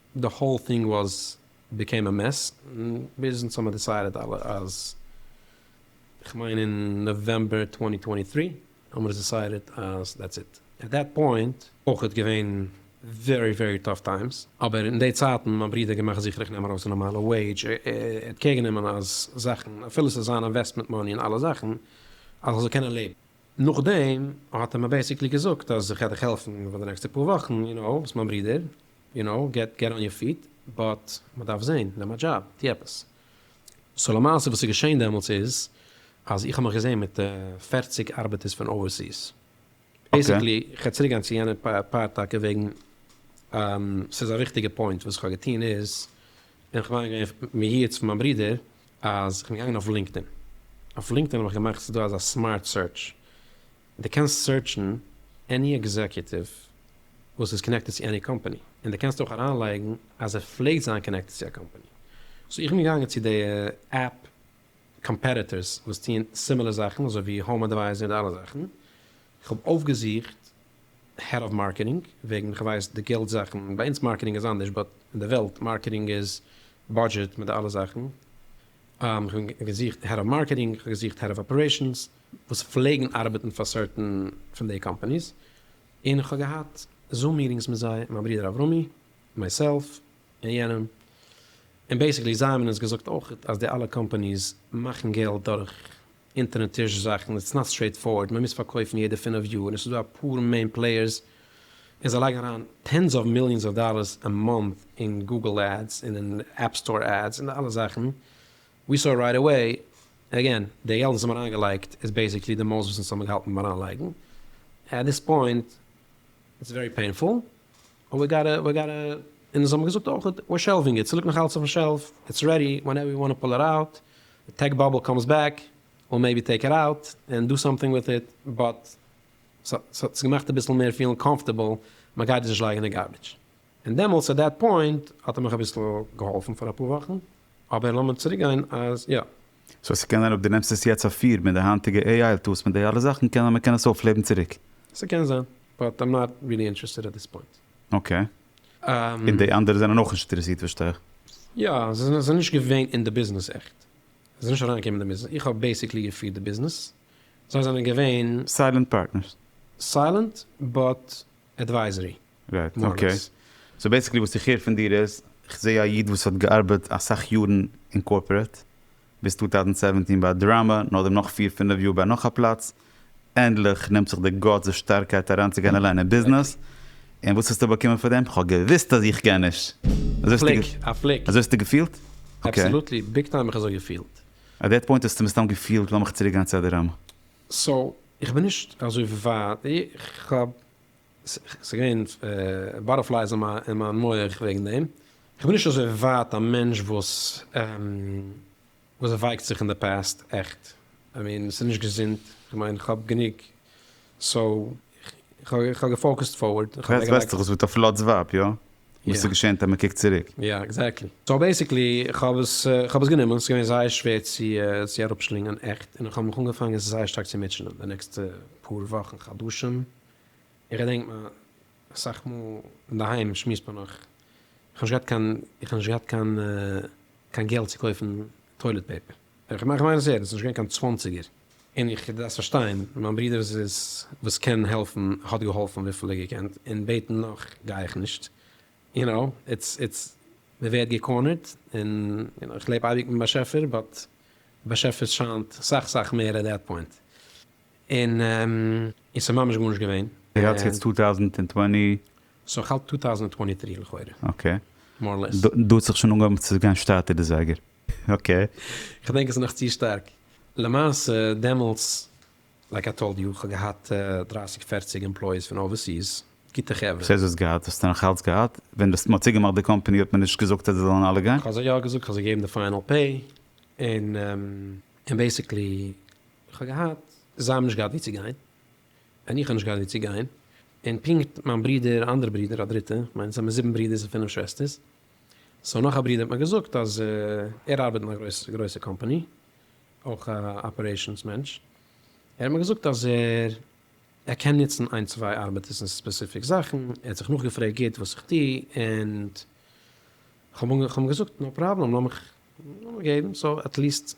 די האול טינג וואס ביקעים א מעס, ביז אונז האמער דיסיידעט אלע אז, כ'מיין אין נאוועמבער צוואַנצן צוואַנצן דרײַ, האמער עס דיסיידעט אז דעטס איט, עט דעט פוינט, אויכעט געווען ווערי ווערי טאף טיימס, אבער אין די צייטן מיין ברודער געמאכט זיכער איך נעם ארויס א נארמאלע וועידזש, ער האט קעיר גענומען אז זאכן, אפילו עס איז זיין אינוועסטמענט מאני און אלע זאכן, אז איך זאל קענען לעבן. נאכדעם האט ער מיר בעיסיקלי געזאגט אז ער גייט דיך העלפן פאר די נעקסטע פאר וואכן, יו נאו, ביסט מיין ברודער, יו נאו, געט געט אן יור פיט, באט מ'דארף זעהן, נעם א דזשאב, טו עפעס. סאו למעשה וואס איז געשעהן דעמאלטס איז אז איך האב מיך געזעהן מיט פֿערציק ארבעטערס פון אווערסיס. אקעי. בעיסיקלי, כ'וועל צוריק גיין צו יענע פארט טאקע וועגן ס'איז א וויכטיגע פוינט, וואס כ'האב געטוהן איז, בין איך מיינער געווען מייעץ פון מיין ברודער, אז כ'בין געגאנגען אויף לינקדאין, אויף לינקדאין האב איך געמאכט ס'איז דא אזא סמארט סערטש, די קענסט סערטשן עני עקזעקיוטיוו וואס איז קאנעקטעד צו עני קאמפעני, און די קענסט אויך אריינלייגן אז ער פלעגט זיין קאנעקטעד צו א קאמפעני, סאו איך בין געגאנגען צו די עפפ קאמפעטיטערס וואס טוען סימילער זאכן אזוי ווי האום אדווייזער און די אלע זאכן, איך האב אויפגעזוכט העד אוו מארקעטינג, וועגן כ'ווייס די געלט זאכן, ביי אונז מארקעטינג איז אנדערש באט אין די וועלט מארקעטינג איז בודזשעט מיט די אלע זאכן, כ'בין געזוכט העד אוו מארקעטינג, כ'האב געזוכט העד אוו אפערעישאנס, וואס פלעגן ארבעטן פאר סערטען פון די קאמפאניס, און איך האב געהאט זום מיטינגס מיט זיי, מיין ברודער אברומי, מייסעלף, און יענעם, און בעיסיקלי זיי האבן אונז געזאגט אויך אז די אלע קאמפאניס מאכן געלט דורך אונטערן טיש זאכן, איטס נאט סטרעיט פארווארד, מען מוז פארקויפן יעדע פֿינף יאר, און עס איז דא אפאר מעין פלעיערס, און זיי לייגן אריין טענס אוו מיליאנס אוו דאלערס א מאנט אין גוגל עדס, און אין עפפ סטאר עדס, און די אלע זאכן. ווי סאו רייט עוועי, עגעין, די געלט וואס האבן אריינגעלייגט איז בעיסיקלי די מאס וואס אונז האבן געהאלטן ביים אריינלייגן, עט דיס פוינט איטס ווערי פעינפול, און ווי גאטע ווי גאטע, און אונז האבן געזאגט אויך ווער שעלווינג איט, ס'ליגט נאך אלץ אויפן שעלף, איטס רעדי ווענעווער ווי וואנט פול איט אוט, די טעק באבל קאמס בעק וויל מעיבי טעיק איט אוט ענד דא סאמטינג וויט איט, באט ס'האט עס געמאכט אביסל מער פילן קאמפארטעבל, מ'גייט עס נישט לייגן אין די גארביטש. און דעמאלטס עט דעט פוינט האט ער מיך אביסל געהאלפן פאר אפאר וואכן, אבער לאמיר צוריק גיין אז יא. סאו ס'קען זיין אויב די נעמסט עס יעצט אויף פֿיר מיט די היינטיגע AI טולס מיט די אלע זאכן קען זיין מ'קען עס אויפלעבן צוריק. ס'קען זיין, באט איים נאט ריעלי אינטערעסטעד עט דיס פוינט. אקעי. און די אנדערע זענען אויך נישט אינטערעסירט פארשטיי איך. יא, זיי זענען נישט געווען אין די ביזנעס עכט. זיי זענען נישט אריינגעקומען אין די ביזנעס. איך האב בעיסיקלי געפירט די ביזנעס. זיי זענען געווען. סיילענט פארטנערס. סיילענט, באט עדווייזערי. רייט, אקעי. סאו בעסיקלי וואס איך הער פון דיר איז, איך זעה א איד וואס האט געארבעט אסאך יארן אין קארפארעט, ביז טו טאוזענד סעווענטין ביי א דראמא, נאכדעם נאך פיר פינף יאר ביי נאך א פלאץ, ענדליך נעמט זיך די גאטס, די שטארקייט אריינצוגיין אליין אין ביזנעס, און וואס האסטו באקומען פאר דעם? כ'האב געוואוסט אז איך קען נישט! א פליק! א פליק! אזוי האסטו געפילט? אקעי. אבסעלוטלי, ביג טיים האב איך אזוי געפילט. עט דעט פוינט האסטו מסתם געפילט לאמיך צוריקגיין צו א דראמא. סאו איך בין נישט אזוי ווייט, איך האב ס'געווען באטערפלייס אין מיין מח וועגן דעם. כ'בין נישט אזוי ווייט א מענטש וואס ווייקט זיך אין די פאסט עכט. איי מין ס'איז נישט געזונט, כ'מיין כ'האב גענוג סאו כ'האב געפאוקעסט פארווארד. און כ'האב אוועקגעלייגט. וועסט וועסטעך עס וועט אויף לאטס ווייב יא? וואס איז געשען טאמער קוקט צוריק? יא עקזעקטלי. סאו בעסיקלי כ'האב עס כ'האב עס גענומען, ס'איז געווען זייער שווער צו צו אראפשלינגען עכט, און כ'האב מיך אנגעפאנגען זייער שטארק צו מוטשענען די נעקסטע פאר וואכן חדשים. איך געדענק מ אסאך מאל אינדערהיים שמועסט מען נאך, איך האב נישט געהאט קיין, איך האב נישט געהאט קיין קיין געלט צו קויפן טוילעט פעיפער, איך מיין עס ערנסט, נישט געווען קיין צוואנציגער, און איך דארפסט פארשטיין, מיין ברודער וואס איז וואס קען העלפן האט געהאלפן וויפיל ער געקענט, און בעטן נאך גיי איך נישט, יו נאו, איטס איטס מען ווערט געקארנערט, און יו נאו, איך לעב אייביג מיטן באשעפער, באט די באשעפער שיינט סאך סאך מער עט דעט פוינט. און און ס'איז ממש גארנישט געווען. יעצט טו טאוזענד און טווענטי. סאו איך האלט טו טאוזענד און טווענטי טרי לכאורה. אקעי. מאר לעס. דא האט זיך שוין אנגעהויבן צו גיין שטאטער די זייגער. אקעי. כ'דענק עס איז נאך צו שטארק. למעשה דעמאלטס לייק איי טאלד יו כ'האב געהאט דרײַסיק פערציג עמפלויעס פון אווערסיס, גוטע חברה. סאיז האסט געהאט, האסטו נאכאלץ געהאט? ווען דאס מ'האט צוגעמאכט די קאמפעני האט מען נישט געזאגט אז זיי זאלן אלע גיין? כ'האב זיי יא געזאגט, כ'האב זיי געגעבן די פיינעל פעי, און און בעסיקלי. איך האב געהאט, זיי האבן נישט געהאט וואו צו גיין, און איך האב נישט געהאט וואו צו גיין, און פונקט מיין ברודער, א אנדערע ברודער, א דריטע, כ'מיין זעמיר זיבן ברודערס און פינף שוועסטערס, סאו נאך א ברודער האט מיר געזאגט אז ער ארבעט אין א גרויסע גרויסע קאמפאני, אויך א אפערעישאנס מענטש, ער האט מיר געזאגט אז ער ער קען נוצן איין צוויי ארבעטערס אין ספעסיפיק זאכן, ער האט זיך נאכגעפרעגט גוט וואס איך טו, און כ'האב אים געזאגט נאו פראבלעם, לאז מיך לאז מיך געבן, סאו עטליעסט.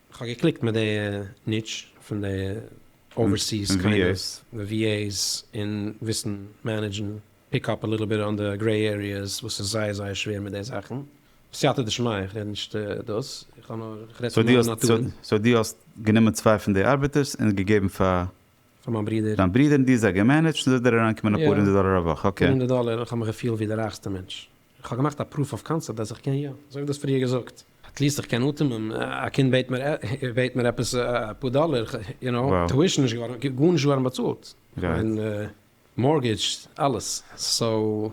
כ'האב געקליקט מיט די ניטש פון די אווערסיס קאנגרעס די ווי עיס און וויסן מענעדזשן פיק אפ א ליטל ביט אן די גרעי עריעס וואס איז זייער זייער שווער מיט די זאכן סייעתא דשמיא איך רעד נישט דאס איך האב נאר איך רעד פון מיין נאטור. סאו די האסט גענומען צוויי פון די ארבעטערס און געגעבן פאר פאר מיין ברודער דיין ברודער און די זיי געמענעדזשט און זאל דיר אריינקומען אפאר הונדערט דאלער א וואך אקעי. אפאר הונדערט דאלער און איך האב מיך געפילט ווי די רייכסטע מענטש. כ'האב געמאכט א פרוף אויף קאנסעפט אז איך קען יא, אזוי ווי דו האסט פריער געזאגט. עטליעסט איך קען אטעמען, א קינד בעט מיר בעט מיר עפעס אפאר דאלער, יו נאו, טואישן נישט געווארן, גארנישט געווארן באצאלט, מיין מארטגעדזש, אלעס, סאו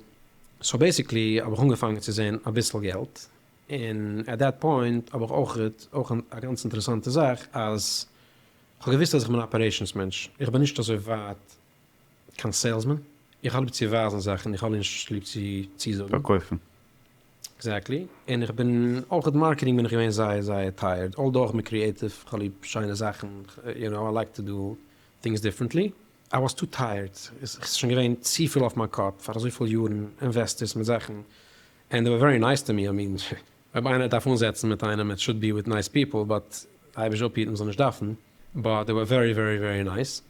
סאו בעסיקלי האב איך אנגעפאנגען צו זען אביסל געלט, און עט דעט פוינט האב איך אויך אויך א גאנץ אינטערעסאנטע זאך אז כ'האב געוואוסט אז איך בין א אפערעישאנס מענטש, איך בין נישט אזוי ווייט קיין סעילסמאן, איך האב ליב צו ווייזן זאכן, איך האב נישט ליב צו צוזאגן. פארקויפן. עקזעקטלי, און איך בין אויך אין מארקעטינג בין איך געווען זייער זייער טייערד, אלדא אויך מיט קריעטיוו, איך האב ליב שיינע זאכן, יו נאו איי לייק טו דא טינגס דיפרענטלי, איי וואס טו טייערד, עס איז שוין געווען צופיל אויף מיין קאפ פאר אזויפיל יארן, אינוועסטערס מיט זאכן, ענד זיי ווער ווערי נייס טו מי, איי מין, אויב איינער דארף אנזעצן מיט איינעם איט שוד בי וויט נייס פיפל באט אייביג אפהיטן מ'זאל נישט דארפן באט דעי ווער ווערי ווערי ווערי נייס.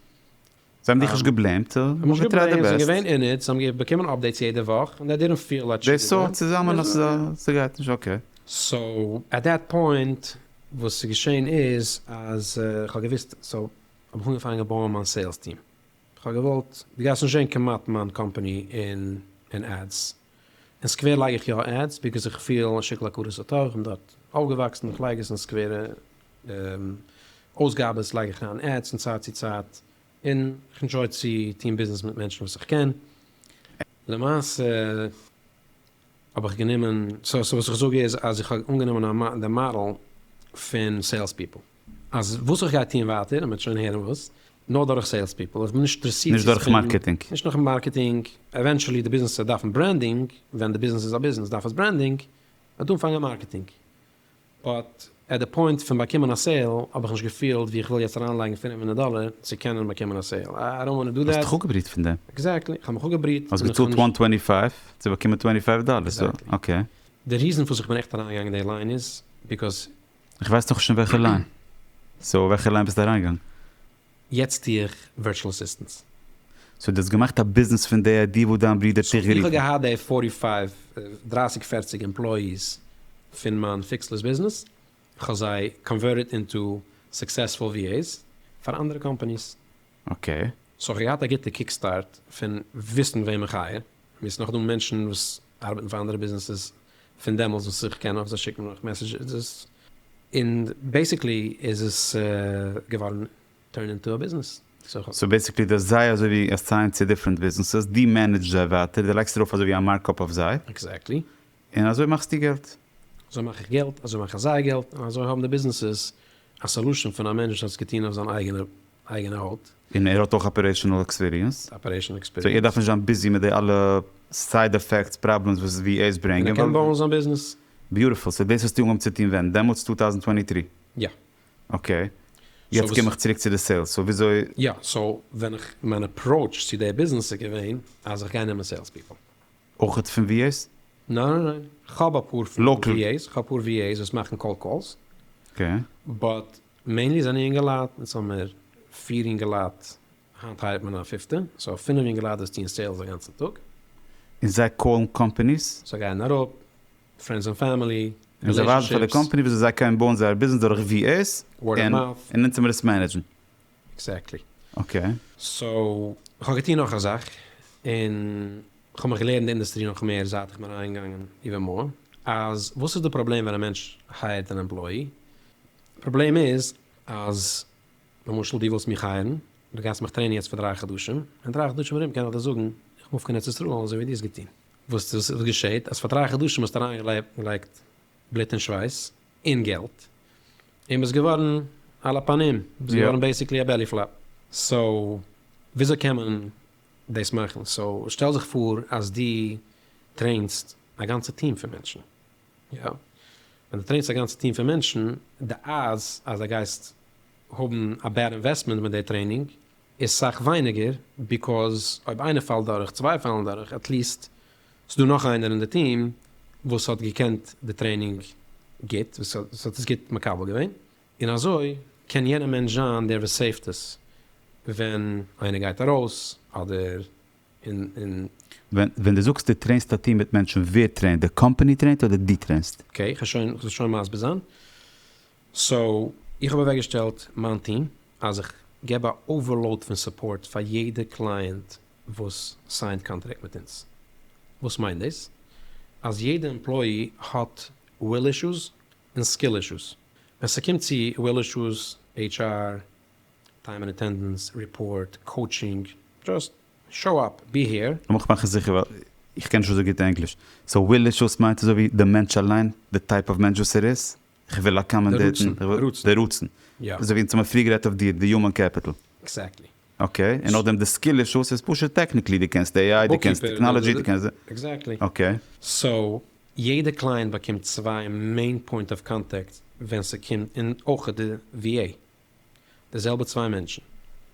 זיי האבן דיך נישט געבלעימט, זיי האבן געטרייט דער בעסט. זיי זענען געווען אין איט, זיי האבן באקומען אפדעיטס יעדע וואך, און דעי דידענט פיל לייק די סארט צוזאמען אז ס'גייט נישט אקעי. סאו עט דעט פוינט וואס איז געשען איז אז כ'האב געוואוסט סאו האב איך אנגעפאנגען בויען מיין סעילס טיעם, כ'האב געוואלט, דו גייסט נישט זען כמעט מיין קאמפאני אין עדס, אין סקווער לייג איך יא עדס ביקעז איך פיל א שיקול הכרת הטוב, איך בין דארט אויפגעוואקסן, איך לייג עס אין סקווערע אויסגאבעס לייג איך אריין עדס פון צייט צו צייט, און איך ענדזשוי צו טון ביזנעס מיט מענטשן וואס איך קען, למעשה האב איך גענומען, סאו וואס איך זאג איז אז איך האב אנגענומען דעם מאדעל פון סעילס פיפל. אז וואס איך גיי טוען ווייטער, מען וועט שוין הערן וואס, נאר דורך סעילס פיפל, איך בין נישט אינטערסירט צו ספענדן, נישט דורך מארקעטינג, עווענטשעלי די ביזנעס וועט דארפן ברענדינג, ווען די ביזנעס איז א ביזנעס דארף עס ברענדינג, וועט אנפאנגען מארקעטינג, באט עט די פוינט פון באקומען א סעיל האב איך נישט געפילט ווי איך וויל יעצט אריינלייגן פֿינף הונדערט דאלער צו קענען באקומען א סעיל, איי דאנט וואנט טו דא דעט. האסט דיך אפגעבריט פון דעם? עקזעקטלי, איך האב מיך אפגעבריט. האסט געצאלט וואן טווענטי פייוו צו באקומען טווענטי פייוו דאלער, סאו אקעי. די ריזן פארוואס איך בין עכט אריינגעגאנגען אין די ליין איז, ביקאוז איך ווייס נאך נישט אין וועלכע ליין. סאו אין וועלכע ליין ביסטו אריינגעגאנגען? יעצט טו איך ווירטשעל אסיסטענס. סאו דו האסט געמאכט א ביזנעס פון די איידיע וואס דיין ברודער האט דיך גערופן? סאו איך האב געהאט די פארטי פייוו, דרייסיג פערציג, עמפלאיס פון מיין פיקסלעס ביזנעס, איך האב זיי קאנווערטעד אינטו סוקסעספול VAs פאר אנדערע קאמפאניס, אקעי. סאו איך האב געהאט א גוטע קיק סטארט פון וויסן וועם איך הייער, מיר ס'נאך דא מענטשן וואס ארבעטן פאר אנדערע ביזנעסעס פון דעמאלטס וואס איך קען אויף זיי שיקן אויך מעסעדזשעס, און בעסיקלי איז עס געווארן טורן אינטו א ביזנעס, סאו איך האב. סאו בעסיקלי דו האסט זיי אזוי ווי אסיינד צו דיפרענט ביזנעסעס, דו מענעדזשט זיי ווייטער, דו לייגסט ארויף אזוי ווי א מארקאפ אויף זיי. עקזעקטלי. און אזוי מאכסטו געלט. אזוי מאך איך געלט, אזוי מאכן זיי געלט, און אזוי האבן די ביזנעסעס א סאלושען פון א מענטש וואס האט עס געטון אויף זיין אייגענע הויט. און ער האט אויך אפערעישענעל עקספיריענס. אפערעישענעל עקספיריענס. סאו ער דארף נישט זיין ביזי מיט די אלע סייד עפעקטס, פראבלעמס וואס איז ווי עז ברענגען. און ער קען בויען זיין ביזנעס. ביוטיפול, סאו דאס האסטו אנגעהויבן צו טון ווען? דעמאלטס טו טאוזנט טווענטי טרי? יא. אקעי. יעצט קום איך צוריק צו די סעילס, סאו וויאזוי. יא, סאו ווען איך, מיין אפראוטש צו די ביזנעס איז געווען אז איך גיי נעמען סעילס פיפל. אויכעט פון ווי עיז? ניין ניין ניין, כ'האב אפאר פון ווי עיז, כ'האב אפאר ווי עיז וואס מאכן קאלד קאלס, באט מעינלי זענען יונגעלייט, יעצט האמיר פֿיר יונגעלייט, היינט הייערט מען א פיפטע, סאו פינעף יונגעלייט וואס טוען סעילס א גאנצן טאג. און זיי קאלן קאמפעניס? זיי גייען אראפ, פרענדס און פעמילי, רילעישאנשיפס. און זיי ווייזן פאר די קאמפעני וויאזוי זיי קענען בויען זייער ביזנעס דורך ווי עיז, און אונז טוען מיר עס מענעדזשן. עקזעקטלי. אקעי. סאו כ'האב געטון נאך א זאך, און כ'האב מיך געלערנט די אינדוסטרי נאך מער זייט איך בין אריינגעגאנגען איבער מאא, אז וואס איז די פראבלעם ווען א מענטש הייערט אן עמפלאי? פראבלעם איז אז למשל דו ווילסט מיך הייערן, דו גייסט מיך טרעינען יעצט פאר דרײַ חדשים, און דרײַ חדשים ארום קען איך דיר זאגן איך מוף קיין ארץ ישראל אזוי ווי דו האסט געטון. וואס געשעט אז פאר דרײַ חדשים האסטו אריינגעלייגט בלוט און שווייס, און געלט, און ביסט געווארן על הפנים, ביסט געווארן בעיסיקלי א בעלי פלאפ, סאו וויאזוי קען מען דאס מאכן? סאו שטעל זיך פאר אז דו טרעינסט א גאנצע טיעם פון מענטשן, יא, ווען דו טרעינסט א גאנצע טיעם פון מענטשן, די אדס אז דו גייסט האבן א בעד אינוועסטמענט מיט די טרעינינג איז סאך ווייניגער ביקאוז אויב איינער פאלט דורך צוויי פאלן דורך עטליעסט ס'דא נאך איינער אין די טיעם וואס האט געקענט די טרעינינג גוט וואס האט עס גוט מקבל געווען און אזוי קען יענע מענטש זיין דער וואס סעיווט עס ווען איינער גייט ארויס אדער און. ווען די זאגסט די טרעינסט א טיעם מיט מענטשן ווער טרעינט די קאמפעני טרעינט אדער די טרעינסט? אקעי כ'האב שוין כ'זאל שוין מסביר זיין סאו איך האב אוועקגעשטעלט מיין טיעם אז איך געב א אווערלאוד פון סופארט פאר יעדע קלייענט וואס סיינט קאנטרעקט מיט אונז. וואס מיינט דאס? אז יעדע עמפלויי האט וויל אישוס און סקיל אישוס. ווען ס'קומט צו וויל אישוס, עיטש אר, טיים ענד אטענדענס, ריפארט, קאוטשינג, דזשאסט שאו אפ, בי העיר. לאמיך מאכן זיכער ווייל איך קען נישט אזוי גוט ענגליש. סאו וויל אישוס מיינט אזויווי די מענטש אליין, די טייפ אוו מענטש וואס ער איז? איך וויל אקאמאנדעיטן די רצון. אזוי ווי אונז האמער פריער גערעדט אויף דיר, די יומען קעפיטל. עקזעקטלי. אקעי, און נאכדעם די סקיל אישוס איז פשוט טעקניקלי, דו קענסט עי איי, דו קענסט טעקנאלעדזשי, דו קענסט. עקזעקטלי. אקעי. סאו, יעדע קלייענט באקומט צוויי מעין פוינט אוו קאנטעקט ווען ס'קומט, און אויך די ווי עי. די זעלבע צוויי מענטשן,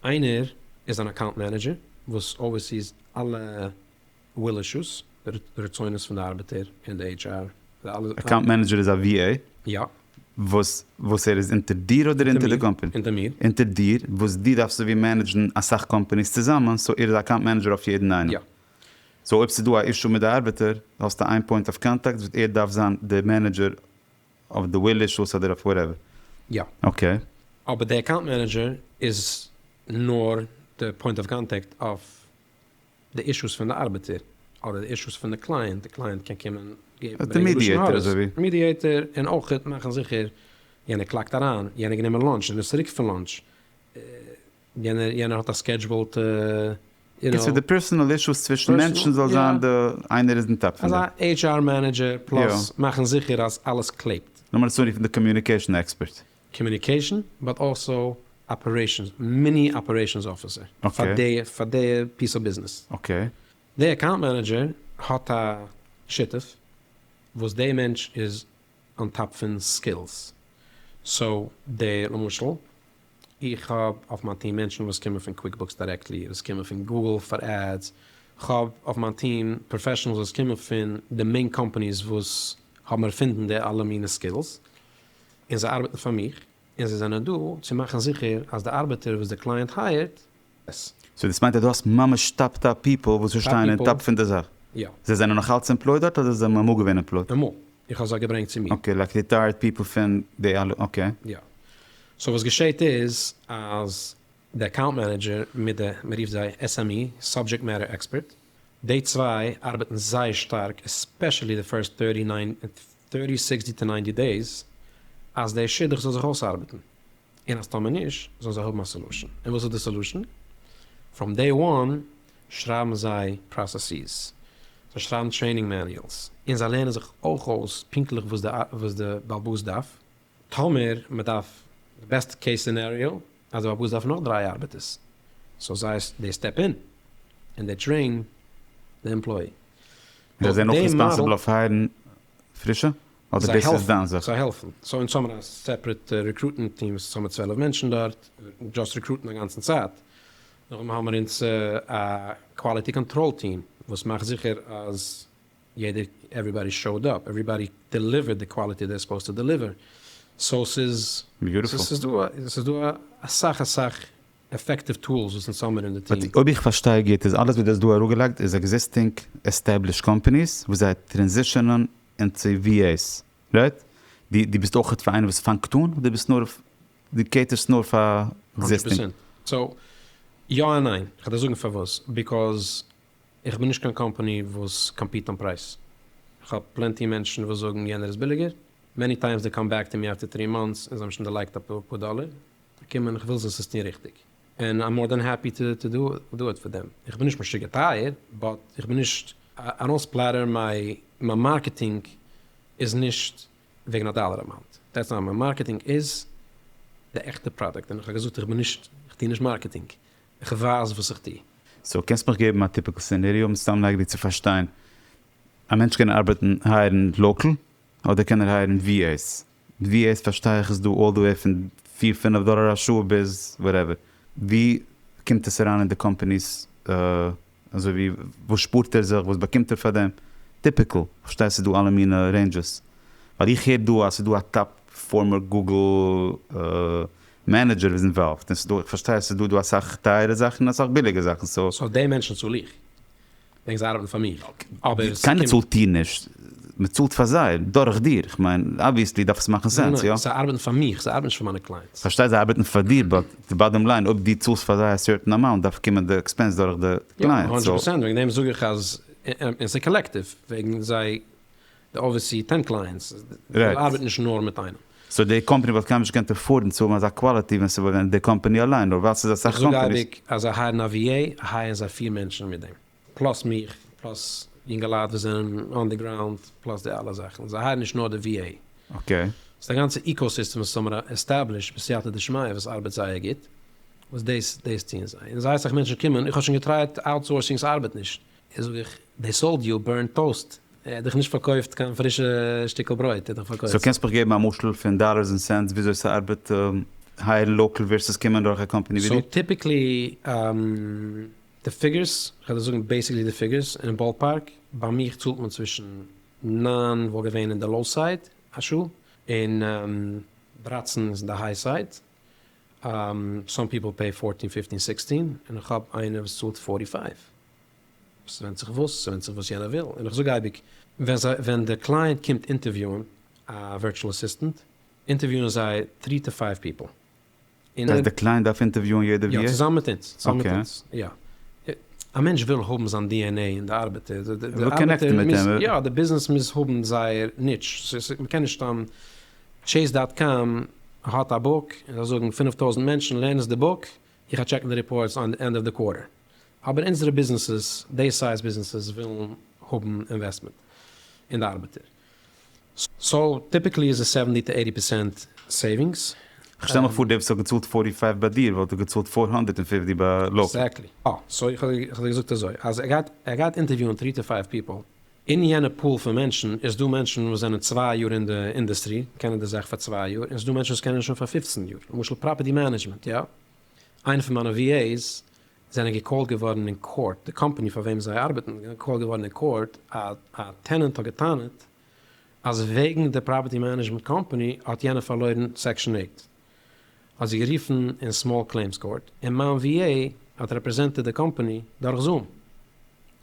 איינער איז אן אקאונט מענעדזשער וואס אווערסיס אלע וויל אישוס, רצונות פון די ארבעטער און די עיטש אר, די אלע. אקאונט מענעדזשער איז א ווי עי? יא. וואס וואס ער איז אונטער דיר אדער אונטער די קאמפעני? אונטער מיר. אונטער דיר, וואס דו דארפסט אזויווי מענעדזשן אסאך קאמפעניס צוזאמען, סאו ער איז א אקאונט מענעדזשער אויף יעדן איינעם. יא. סאו אויב ס'איז דא א אישו מיט די ארבעטער, האסטו איין פוינט אוו קאנטאקט וואס ער דארף זיין די מענעדזשער. אויף די ווילי שאוס אדער אויף וואטעווער? יא. אקעי. אבער די אקאונט מענעדזשער איז נאר די פוינט אוו קאנטעקט אויף די אישוס פון די ארבעטער, אדער די אישוס פון די קלייענט, די קלייענט קען קומען געבן ברענגען לשון הרע'ס, מידיעטער, און אויך מאכן זיכער יענער קלאקט אריין, יענער גענומען לאנטש און איז צוריק פון לאנטש, יענער יענער האט א סקעדזשבעלט יו נאו. קיצור די פערסענעל אישוס צווישן מענטשן זאל זיין די איינער איז אין טאפ פון די. אזא עיטש אר מענעדזשער פלאס מאכן זיכער אז אלעס קלעבט. לאמיר עס אנרופן די קאמיוניקעישן עקספערט. קאמיוניקעישן באט אלסא אפערעישנס מיני אפערעישנס אפיסער פאר די פאר די פיס אוו ביזנעס. אקעי. די אקאונט מענעדזשער האט א שותף וואס די מענטש איז אן טאפ פון סקילס סאו די למשל. איך האב אויף מיין טיעם מענטשן וואס קומען פון קוויקבוקס דירעקטלי, וואס קומען פון גוגל פאר עדס, כ'האב אויף מיין טיעם פראפעשענעלס וואס קומען פון די מעין קאמפאניס וואס האבן ערפינדן די אלע מינע סקילס, און זיי ארבעטן פאר מיך, און זיי זענען דא צו מאכן זיכער אז די ארבעטער וואס די קלייענט הייערט ס. סאו דאס מיינט אז דו האסט ממש טאפ טאפ פיפל וואס פארשטייען און טאפ פון די זאך? יא. זיי זענען נאך אלץ עמפלויד דארט אדער זיי האבן אמאל געווען עמפלויד? אמאל. איך האב זיי געברענגט צו מיר. אקעי, לייק ריטייערט פיפל פון די אלע, אקעי. יא. סאו וואס געשעהט איז אז די אקאונט מענעדזשער מיט די, מען רופט זיי SME, סאבדזשעקט מעטער עקספערט, די צוויי ארבעטן זייער שטארק עספעשעלי די פירסט טערטי, נײַנטי, סיקסטי טו נײַנטי דעיס אז די שידוך זאל זיך אויסארבעטן, און אז טאמער נישט זאלן זיי האבן א סעלושען. און וואס איז די סעלושען? פראם דעי וואן שרייבן זיי פראסעסיס, זיי שרייבן טרעינינג מעניועלס, און זיי לערנען זיך אויך אויס פונקטליך וואס די באלבאס דארף. טאמער מען דארף, די בעסט קעיס סינעריאו, אז די באלבאס דארף נאך דריי ארבעטערס, סאו זיי דעי סטעפ אין און דעי טרעין די עמפלאי. זיי זענען אויך ריספאנסיבל אויף הייערן פרישע? אדער דאס איז דיין זיכער? זיי העלפן. סאו אונז האבן א סעפרעט רעקרוטמענט טיעם וואס איז צאם מיט צוועלף מענטשן דארט, דזשאסט רעקרוטן א גאנצן צייט. נאכדעם האבן מיר אונז א קוואליטי קאנטראל טיעם וואס מאכט זיכער אז יעדער עוועריבאדי שאוד אפ, עוועריבאדי דעליווערט די קוואליטי זיי סופאוזד טו דעליווער. סאו ס'איז ס'איז דא אסאך אסאך עפעקטיוו טולס וואס אונז האמיר אין די טיעם. אויב איך פארשטיי גוט איז אלעס וואס דו האסט דא אראפגעלייגט איז עקזיסטינג עסטעבלישט קאמפעניס וואס זיי טרענזישענען אין צו VAs רייט? דו ביסט אויך פאר איינער וואס פאנגט אן אדער ביסט נאר דו קעיטערסט נאר פאר הונדרעט עקזיסטינג? פערסענט סאו יא און ניין, כ'וועל דיר זאגן פארוואס, ביקאוז איך בין נישט קיין קאמפעני וואס קאמפיט אן פרייז, כ'האב פלענטי מענטשן וואס זאגן יענער איז ביליגער, מעני טיימס דעי קאם בעק טו מי אפטער טרי מאנטס און זיי האבן שוין דערלייגט אפאר דאלער, קומען איך וויל זיס עס טון ריכטיג און איים מאר דען העפי טו דו איט פאר דעם, איך בין נישט משוגע טייער באט איך בין נישט א ראס פלעטער מיין מארקעטינג איז נישט וועגן א דאלער אמאונט דעטס אלל, מיין מארקעטינג איז די עכטע פראדוקט און איך האב געזאגט איך בין נישט איך טו נישט מארקעטינג איך ווייז וואס איך טו. סאו קענסט מיך געבן א טיפיקל סענעריאו מסתם לייג דיר צו פארשטיין, א מענטש קען ארבעטן הייערן לאקעל אדער קען ער הייערן ווי עיס? ווי עס פארשטיי איך איז דא אלל די וועי פון פיר פינעף דאלער א שעה ביז וואטעווער, ווי קומט עס אריין אין די קאמפעניס אזוי ווי וואס שפארט ער זיך וואס באקומט ער פאר דעם, טיפיקעל, איך פארשטיי ס'איז דא אלע מינע רעינדזשעס, ווייל איך הער דא אז ס'איז דא א טאפ פארמער גוגל מענעדזשער וואס איז אינוואלווד, און ס'איז דא, איך פארשטיי אז ס'איז דא דא אסאך טייערע זאכן און אסאך ביליגע זאכן, סאו. סאו די מענטשן צאל איך. דענק זיי ארבעטן פאר מיר אבער ס'קומט. קיינער צאלט דיר נישט, מ'צאלט פאר זיי דורך דיר, כ'מיין אבוויעסלי דארף עס מאכן סענס, איא? זיי ארבעטן פאר מיך, זיי ארבעטן נישט פאר מיינע קלייענטס. כ'פארשטיי זיי ארבעטן פאר דיר באט די באדאם ליין אויב דו צאלסט פאר זיי א סערטען אמאונט דארף קומען די עקספענס דורך די קלייענט, סאו. הונדרעט פראצענט, וועגן דעם זאג איך אז, און ס'קאלעקטיוו, וועגן זיי די אווערסי טענק ליינס זאל ארבעטן נישט נאר מיט איינעם. סאו די קאמפאני וואלט קיינמאל נישט געקענט עפארדן צו האבן אזא קוואליטי ווען ס'וואלט געווען די קאמפאני אליין נאר ווייל ס'איז אסאך קאמפאניס. איך זאג אייביג אז זיי הייערן א VA הייערן זיי פֿיר מענטשן מיט דעם פלאס מיך פלאס יונגעלייט וואס זענען אן די גראונד פלאס די אלע זאכן זיי הייערן נישט נאר די VA. אקעי. ס'איז א גאנצע איקאוסיסטעם וואס האבן עסטעבלישט בסייעתא דשמיא וואס ארבעט זייער גוט וואס דאס דאס טוען זיי און זייער סאך מענטשן קומען איך האב שוין געטרייט אוטסאורסינג ס'ארבעט נישט איז זאג איך, דעי סאלד יו א בורנט טאוסט, ער האט דיך נישט פארקויפט קיין פרישע שטיקל ברויט, ער האט דיך פארקויפט. סאו קענסט מיך געבן א משל פון דאלערס און סענטס וויאזוי ס'ארבעט הייערן לאקעל ווערסעס קומען דורך א קאמפעני ווי דיר? סאו טיפיקלי די פיגורס, כ'וועל דיר זאגן בעיסיקלי די פיגורס אין באלפארק, ביי מיך צאלט מען צווישן נײַן וואלט געווען אין די לאו סייד א שעה, און דרײַצן איז אין די היי סייד, סאם פיפל פעי פארטין פיפטין סיקסטין, און איך האב איינער וואס צאלט פארטי פייוו. ס'ווענדט זיך וואס, ס'ווענדט זיך וואס יענער וויל, און איך זאג אייביג, ווען די קלייענט קומט אינטערוויוען א ווירטשועל אסיסטענט, אינטערוויוען זיי טרי טו פייוו פיפל. דאס הייסט די קלייענט דארף אינטערוויוען יעדער ווי ער. יא, צוזאמען מיט אונז, צוזאמען מיט אונז, יא. א מענטש וויל האבן זיין DNA אין די ארבעטער, די ארבעטער מוז, יא, די ביזנעס מוז האבן זייער ניטש, מ'קען נישט סתם, טשעיס דאט קאם האט א בוק, און זיי זאגן פֿינף טויזנט מענטשן לערנען עס די בוק, איך גיי טשעקן די ריפארטס ענד אוו די קווארטער. אבער אונזערע ביזנעסעס, די סייז ביזנעסעס, ווילן האבן אינוועסטמענט אין די ארבעטער. סאו טיפיקלי איז עס סעווענטי טו עיטי פערסענט סעיווינגס. כ'שטעל מיך פאר די וואס האט געצאלט פארטי פייוו ביי דיר וואלט געצאלט פאר הונדערט און פופטי ביי לאקעל. עקזעקטלי. סאו איך האב דיר געזאגט אזוי אז ער גייט ער גייט אינטערוויוען טרי טו פייוו פיפעל. אין יענע פול פון מענטשן איז דא מענטשן וואס זענען צוויי יאר אין די אינדעסטרי, קענען די זאך פאר צוויי יאר, און ס'דא מענטשן וואס קענען עס שוין פאר פופצן יאר. למשל פראפערטי מענעדזשמענט, יא? איינע פון מיינע VAs זענען געקאלט געווארן אין קאורט, די קאמפאני פאר וועם זיי ארבעטן זענען געקאלט געווארן אין קאורט, א טענענט האט גע'טענה'ט אז וועגן די פראפערטי מענעדזשמענט קאמפאני האט יענער פארלוירן סעקשאן עיט, האט זי גערופן אין סמאל קלעימס קאורט, און מיין VA האט רעפרעזענטעד די קאמפאני דורך זום,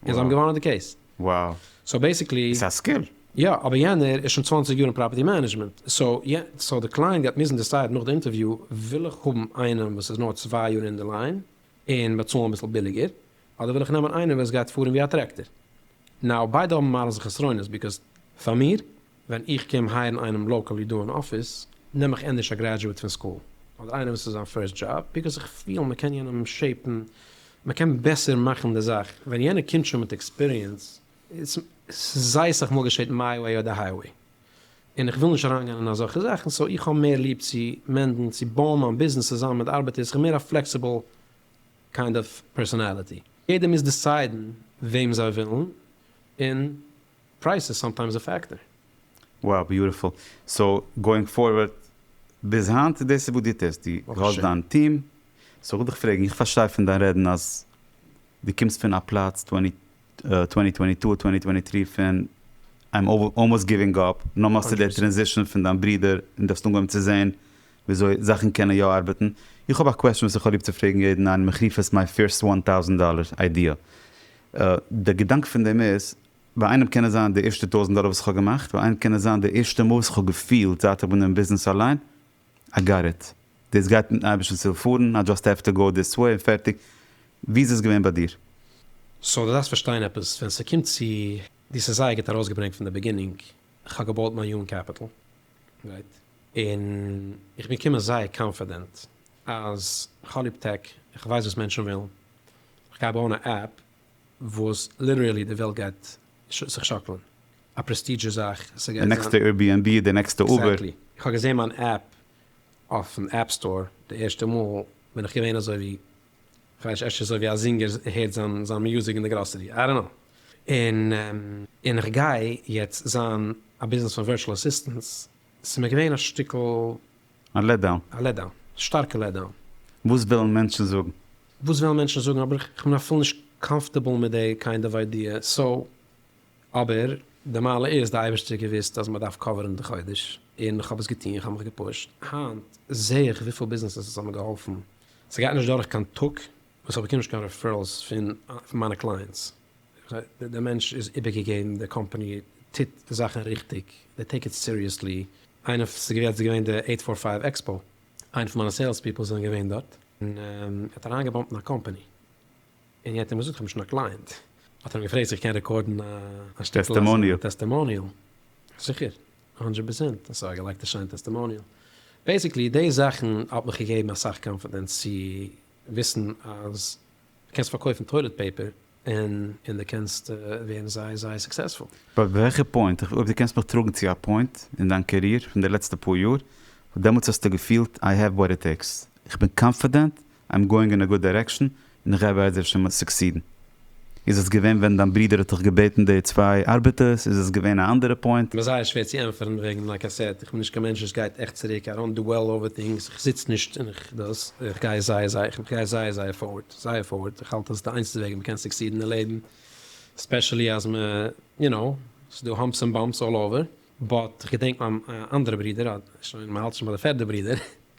און זיי האבן געוואנען די קעיס. וואו. סאו בעסיקלי. ס'איז א סקיל. יא, אבער יענער איז שוין צוואַנציק יאר אין פראפערטי מענעדזשמענט, סאו די קלייענט גייט מוזן דיסיידן נאך די אינטערוויו, וויל איך האבן איינעם וואס איז נאר צוויי יאר אין די ליין און באצאלן אביסל ביליגער, אדער וויל איך נעמען איינעם וואס גייט פארן ווי א טרעקטער. נאו, ביידע האבן מעלות און חסרונות, ביקאוז פאר מיר, ווען איך קום הייערן איינעם לאקעלי דא אין אפיס, נעם איך ענדערש א גרעדזשועט פון סקול, אדער איינער וואס איז זיין פירסט דזשאב, ביקאוס איך פיל מען קען יענעם שעיפן, מען קען בעסער מאכן די זאך, ווען יענער קומט שוין מיט עקספיריענס, ס'זייסעך מאל געשעט מיי וועי אדער היי וועי, און איך וויל נישט אריינגיין אין אזעלכע זאכן, סאו איך האב מער ליב צו מענדן, צו בויען מיין ביזנעס צוזאמען מיט ארבעטערס, איך בין מער א פלעקסיבל קיינד אוו פערסאנאליטי. יעדער מוז דיסיידן וועם זיי ווילן און פרייז איז סאמטיימס א פעקטער. Wow ביוטיפול, סאו גאוינג פארווערד ביז היינט דאס איז וואס דו טוסט, דו האסט דיין טיעם, סאו כ'וויל דיך פרעגן, איך פארשטיי פון דיין רעדן אז דו קומסט פון א פלאץ טווענטי טווענטי טו טווענטי טווענטי טרי פון איים אלמאוסט גיווינג אפ, נאר מאכסטו די טרענזישאן פון דיין ברודער און דו האסט אנגעהויבן צו זען וויאזוי זאכן קענען יא ארבעטן, איך האב א קוועסטשן וואס איך האב ליב צו פרעגן יעדן איין מחריפת מיי פירסט וואן טאוזענט דאלער איידיע. די געדאנק פון דעם איז, ביי איינעם קען עס זיין די ערשטע טויזענט דאלער וואס איך האב געמאכט, ביי איינעם קען עס זיין די ערשטע מאל וואס איך האב געפילט זייט איך בין אין ביזנעס אליין, איי גאט איט, דאס גייט מיטן אייבערשטנ'ס הילף פארן, איי דזשאסט העוו טו גאו דיס וועי און פערטיג. ווי איז עס געווען ביי דיר? סאו דו דארפסט פארשטיין עפעס, ווען ס'קומט צו, דו האסט עס זייער גוט ארויסגעברענגט פון די בעגינינג, איך האב געבויט מיין יונג קעפיטעל, גרייט, און איך בין געקומען זייער קאנפידענט אז כ'האב ליב טעק, איך ווייס וואס מענטשן ווילן, איך גיי בויען א עפפ וואס ליטערעלי די וועלט גייט זיך שאקלן, א פרעסטידזשעס זאך, די נעקסטע עירביענבי, די נעקסטע אובער. עקזעקטלי, איך האב געזעהן מיין עפפ אויפן עפפ סטאר די ערשטע מאל, בין איך געווען אזוי ווי כ'ווייס נישט, אפשר אזוי ווי א זינגער הערט זיין מיוזיק אין די גראסערי, איי דאנט נאו. און און כ'גיי יעצט זיין א ביזנעס פון ווירטשעל אסיסטענטס, ס'איז מיר געווען א שטיקל. א לעט דאון. א לעט דאון. א שטארקע לעט דאון. וואס וועלן מענטשן זאגן? וואס וועלן מענטשן זאגן, אבער כ'בין אפילו נישט קאמפארטעבל מיט די קיינד אוו איידיע, סאו. אבער די מעלה איז, די אייבערשטער האט געוואוסט אז מ'דארף קאווערן די חודש, און כ'האב עס געטון, כ'האב מיך געפושט, היינט זעה איך וויפיל ביזנעסעס עס האט מיר געהאלפן, ס'גייט נישט דורך קיין טאג וואס איך באקום נישט קיין רעפערעלס פון מיינע קלייענטס. דער מענטש איז איבערגעגעבן, די קאמפאני טוט די זאכן ריכטיג, זיי טעיק איט סיריעסלי. איינער, ס'איז געווען יעצט געווען די עיט פאר פייוו עקספאו, איינע פון מיינע סעילס פיפל זענען געווען דארט, און ער האט אריינגעבאמפט אין א קאמפאני, און יענער האט אים געזאגט איך האב נישט קיין קלייענט, האט ער אים געפרעגט צו איך קען רעקארדן א שטיקל טעסטימאניעל, זיכער, הונדרעט פערסענט, אסאך געלייגט א שיין טעסטימאניעל. בעיסיקלי די זאכן האט מיך געגעבן אסאך קאנפידענס צו וויסן אז דו קענסט פארקויפן טוילעט פעיפער און און דו קענסט ווערן זייער זייער סוקסעספול. ביי וועלכע פוינט? אויב דו קענסט מיך טראגן צו א פוינט אין דיין קעריער פון די לעצטע פאר יאר וואס דעמאלטס האסטו געפילט איי העוו וואט איט טעיקס, איך בין קאנפידענט איים גאוינג אין א גוד דירעקשאן און איך גיי בעזר השם סוקסידן. איז עס געווען ווען דיין ברודער האט דיך געבעטן די צוויי ארבעטערס? איז עס געווען א אנדערע פוינט? מ'איז זייער שווער צו ענטפערן וועגן לייק איי סעד, איך בין נישט קיין מענטש וואס גייט עכט צוריק, איי דאנט דוועל אווער טינגס, איך זיץ נישט און איך דאס, איך גיי זייער זייער איך גיי זייער זייער פארווארד, זייער פארווארד, איך האלט אז די איינציגסטע וועג ווי מ'קען סוקסידן אין לעבן, ספעשעלי אז מ'איז יו נאו, ס'איז דא האמפס און באמפס אלל אווער, באט איך געדענק מיין אנדערע ברודער, שוין מ'האלט נישט ביי די פערדע ברודער,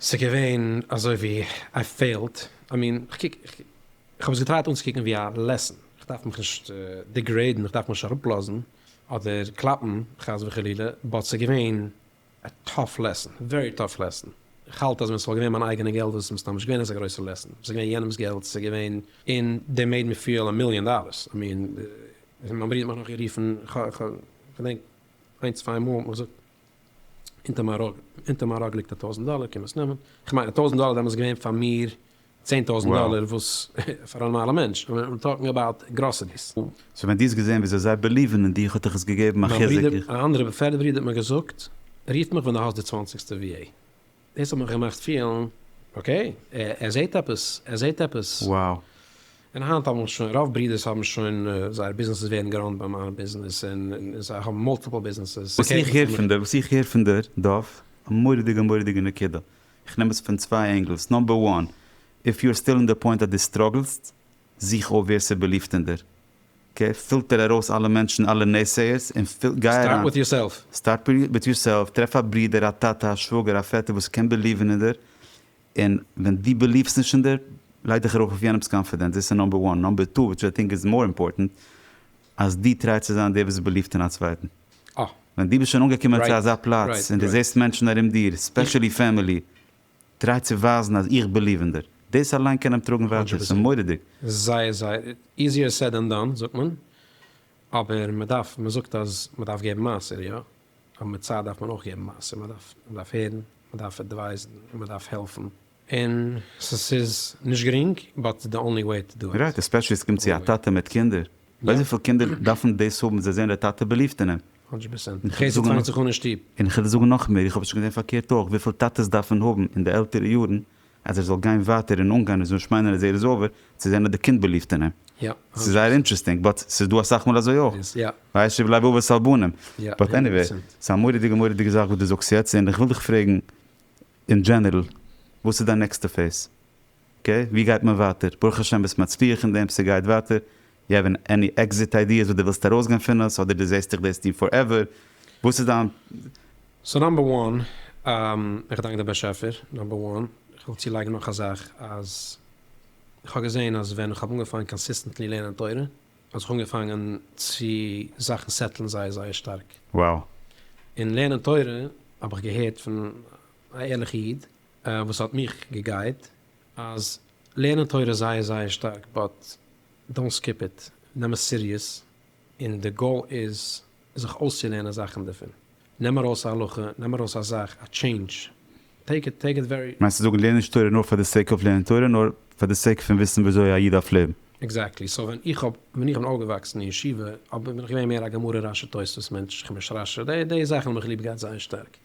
ס'געווען אזוי ווי איי פעילד, איי מין כ'קוק כ'האב עס געטרייט אנצוקוקן ווי א לעסן, כ'דארף מיך נישט דיגרעידן, כ'דארף מיך נישט אראפלאזן אדער קלאפן חס וחלילה, באט ס'געווען א טאף לעסן, ווערי טאף לעסן, כ'האלט אז ווען ס'וואלט געווען מיין אייגענע געלט וואלט עס מסתם נישט געווען אזא גרויסע לעסן, וואלט עס געווען יענעמס געלט, ס'געווען און דעי מעיד מי פיעל א מיליאן דאללערס, איי מין מ'האט מיך נאך גערופן, כ'דענק איינס צוויי מאל האט מען געזאגט אונטער מיין ראג, אונטער מיין ראג ליגט א טויזענט דאלער, קען מען עס נעמען, איך מיין א טויזענט דאלער דעמאלטס איז געווען פאר מיר צען טויזענט דאלער, וואס פאר א נארמאלע מענטש, און איים טאלקינג אבאוט גראסעריס. סאו ווען דו האסט געזען וויאזוי זיי בעליווען אין דיך האט דיך עס געגעבן א חיזוק? מיין ברודער, א אנדערע בעפערדע ברודער האט מיר געזאגט, רוף מיך ווען דו האסט די צוואנציגסטע VA. דאס האט מיך געמאכט פילן אקעי, ער זעט עפעס, ער זעט עפעס. Wow. און היינט האבן מיר שוין, רוב ברידערס האבן שוין, זייערע ביזנעסעס ווערן געראנט ביי מיין ביזנעס, און זיי האבן מולטיפל ביזנעסעס. וואס איך הער פון דיר, וואס איך הער פון דיר, דוב, א מורא'דיגע מורא'דיגע נקודה, איך נעם עס פון צוויי ענגלס, נאמבער וואן, איף יו אר סטיל אין די פוינט אז דו סטראגלסט, זוך אויף ווער ס'איז באליבט אין דיר. אקעי? פילטער ארויס אלע מענטשן, אלע נעסעיערס, און גיי אריין. סטארט וויט יורסעלף. סטארט וויט יורסעלף, טרעף א ברודער, א טאטע, א שוואגער, א פעטער וואס קען בעליווען אין דיר, און ווען דו בעליוו'סט נישט אין דיר, לייג דיך ארויף אויף יענעמ'ס קאנפידענץ, דאס איז נאמבער וואן, נאמבער טו, וויטש איי טינק איז מאר אימפארטענט, אז דו טריי צו זיין דער וואס בעליווט אין א צווייטן. אה. ווען דו ביסט שוין אנגעקומען צו אזא פלאץ, און דו זעסט מענטשן ארום דיר, ספעשעלי פעמילי, טריי צו ווייזן אז איך ביליוו אין דיר, דאס אליין קען אים טראגן ווייטער, ס'איז מורא'דיג. זייער זייער, איזיער סעד דען דאן זאגט מען, אבער מען דארף, מען זאגט אז מען דארף געבן מעשר יא, אבער מיט צייט דארף מען אויך געבן מעשר, מען דארף, מען דארף הערן, מען דארף עדווייזן, און מען דארף העלפן, און ס'איז נישט גרינג, באט ס'איז די אנלי וועי טו דו איט. רייט, עספעשלי ס'קומט צו א טאטע מיט קינדער, ווייסט וויפיל קינדער דארפן דאס האבן זיי זעהן דער טאטע ביליווט אין אים. הונדרעט פערסענט. און חסד פאנגט זיך אן אין שטוב. און איך וועל זאגן נאכמער, איך האב שוין געזען פארקערט אויך, וויפיל טאטעס דארף מען האבן אין די עלטערע יארן אז ער זאל גיין ווייטער און אנגיין און זאל נישט מיינען אז ער איז אווער, צו זען אז די קינד בעליווט אין אים. ס'איז זייער אינטרעסטינג, באט ס'איז דא אסאך מאל אזוי אויך. וישב לב אבות על בנים. באט עניוועי, ס'א מורא'דיגע מורא'דיגע זאך וואס דו זאגסט יעצט, און איך וויל דיך פרעגן אין דזשענערל, וואס איז דיין נעקסטע פעיז? אקעי, ווי גייט מען ווייטער? ברוך השם ביסט מצליח אין דעם, ס'גייט ווייטער, יו העוו עני עקזיט איידיעס וואס דו ווילסט ארויסגיין פון עס, אדער דו זעסט דיך דאס טון פארעווער? וואס איז דיין. סאו נאמבער וואן, איך דאנק דעם באשעפער, נאמבער וואן, איך וויל צולייגן נאך א זאך, אז איך האב געזען אז ווען איך האב אנגעפאנגען קאנסיסטענטלי לערנען תורה, האט זיך אנגעפאנגען צו זאכן סעטלן זייער זייער שטארק. Wow. און לערנען תורה, האב איך געהערט פון א ערליכע איד, וואס האט מיך געגייט אז לערנען תורה איז זייער זייער שטארק באט דאנט סקיפ איט, נעם עס סיריעס, און די גאול איז זיך אויסצולערנען זאכן דערפון, נעם ארויס א הלכה, נעם ארויס א זאך, א טשעינדזש, טעיק איט טעיק איט ווערי. מיינסט צו זאגן לערן נישט תורה נאר פאר די סעיק אוו לערנען תורה, נאר פאר די סעיק פון וויסן וויאזוי א איד דארף לעבן? עקזעקטלי, סאו ווען איך האב ווען איך בין אויפגעוואקסן אין ישיבה האב בין איך געווען מער א גמרא רשי תוספות מענטש, כ'בין נישט רשי, די זאכן האבן מיך ליב געהאט זייער שטארק.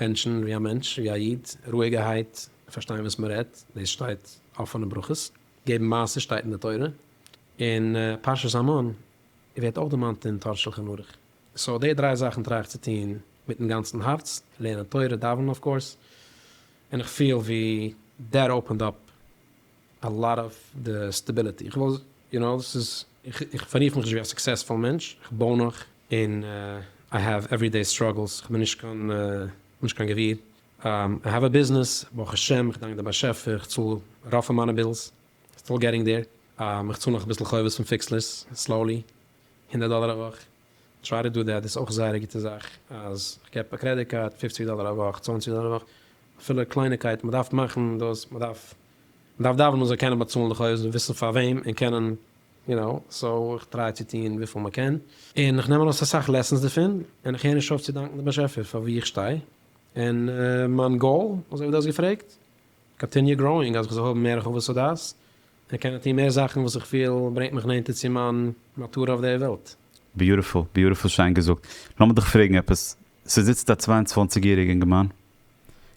מענטשן ווי א מענטש, ווי א איד, רואיגערהייט, פארשטיין וואס מען רעדט, דאס שטייט אפענע ברכות, געבן מעשר שטייט אין די תורה, אין פרשת המן ווערט אויך דערמאנט אין תורה שלחן ערוך, סאו די דריי זאכן טריי איך צו טון מיטן גאנצן הארץ, לערנען תורה, דאווענען אויף קאורס, און איך פיל ווי דעט אפענד אפ א לאט אוו די סטעביליטי, איך וויל יו נאו דאס איז, איך פאררוף מיך נישט ווי א סוקסעספול מענטש, איך בוי נאך, און איי העוו עווערי דעי סטראגעלס, איך בין נישט קיין, נישט קיין גביר, איי העוו א ביזנעס, ברוך השם, איך דאנק די באשעפער, איך צאל רוב פון מיינע בילס, סטיל געטינג דעיר, איך צאל נאך אביסל חובות פון פיקסלערס, סלאולי, הונדערט דאלער א וואך, טריי טו דו דעט איז אויך זייער א גוטע זאך אז כ'געב א קרעדיט קארד פופציג דאלער א וואך צוואנציג דאלער א וואך אפילו קלייניקייטן מען דארף מאכן דאס מען דארף מען דארף דאווענען מען זאל קענען באצאלן די חובות און וויסן פאר וועם און קענען יו נאו סאו איך טריי צו טון וויפיל מען קען און איך נעם ארויס אסאך לעסענס דערפון און איך הער נישט אויף צו דאנקן די באשעפער פאר ווי איך שטיי און מיין גאול אזוי ווי דו האסט געפרעגט קאנטיניו גראוינג אז איך זאל האבן מער הרחבת הדעת איך קען טון מער זאכן וואס איך פיל ברענגט מיך נענטער צו מיין מטרה אויף דער וועלט. ביוטיפול, ביוטיפול שיין געזאגט. לאמיר דיך פרעגן עפעס, ס'זיצט א צוויי און צוואַנציק יעריגע אינגערמאן,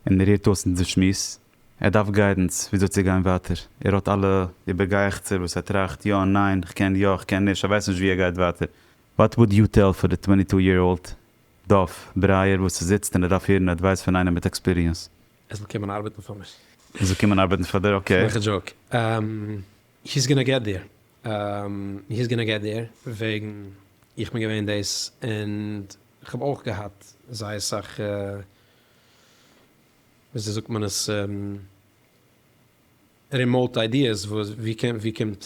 און ער הערט אויס אונזער שמועס, ער דארף גיידענס וויאזוי צו גיין ווייטער, ער האט אלע איבערגייעכצער וואס ער טראכט, יא, ניין, כ'קען יא, כ'קען נישט, ער ווייסט נישט ווי ער גייט ווייטער, וואט וואלד יו טעל פאר די טווענטי טו יער אולד דוב ברייער וואס ס'זיצט און ער דארף הערן עדווייס פון איינעם מיט עקספיריענס? ער זאל קומען ארבעטן פאר מיר. ער זאל קומען ארבעטן פאר דיר, אקעי. איך מאך א דזשאוק. היס גאנא געט דיר. היס גאנא געט דיר. וועגן איך בין געווען דאס און איך האב אויך געהאט זייער סאך וויאזוי זאגט מען עס רימאוט איידיעס וואו וואו קומט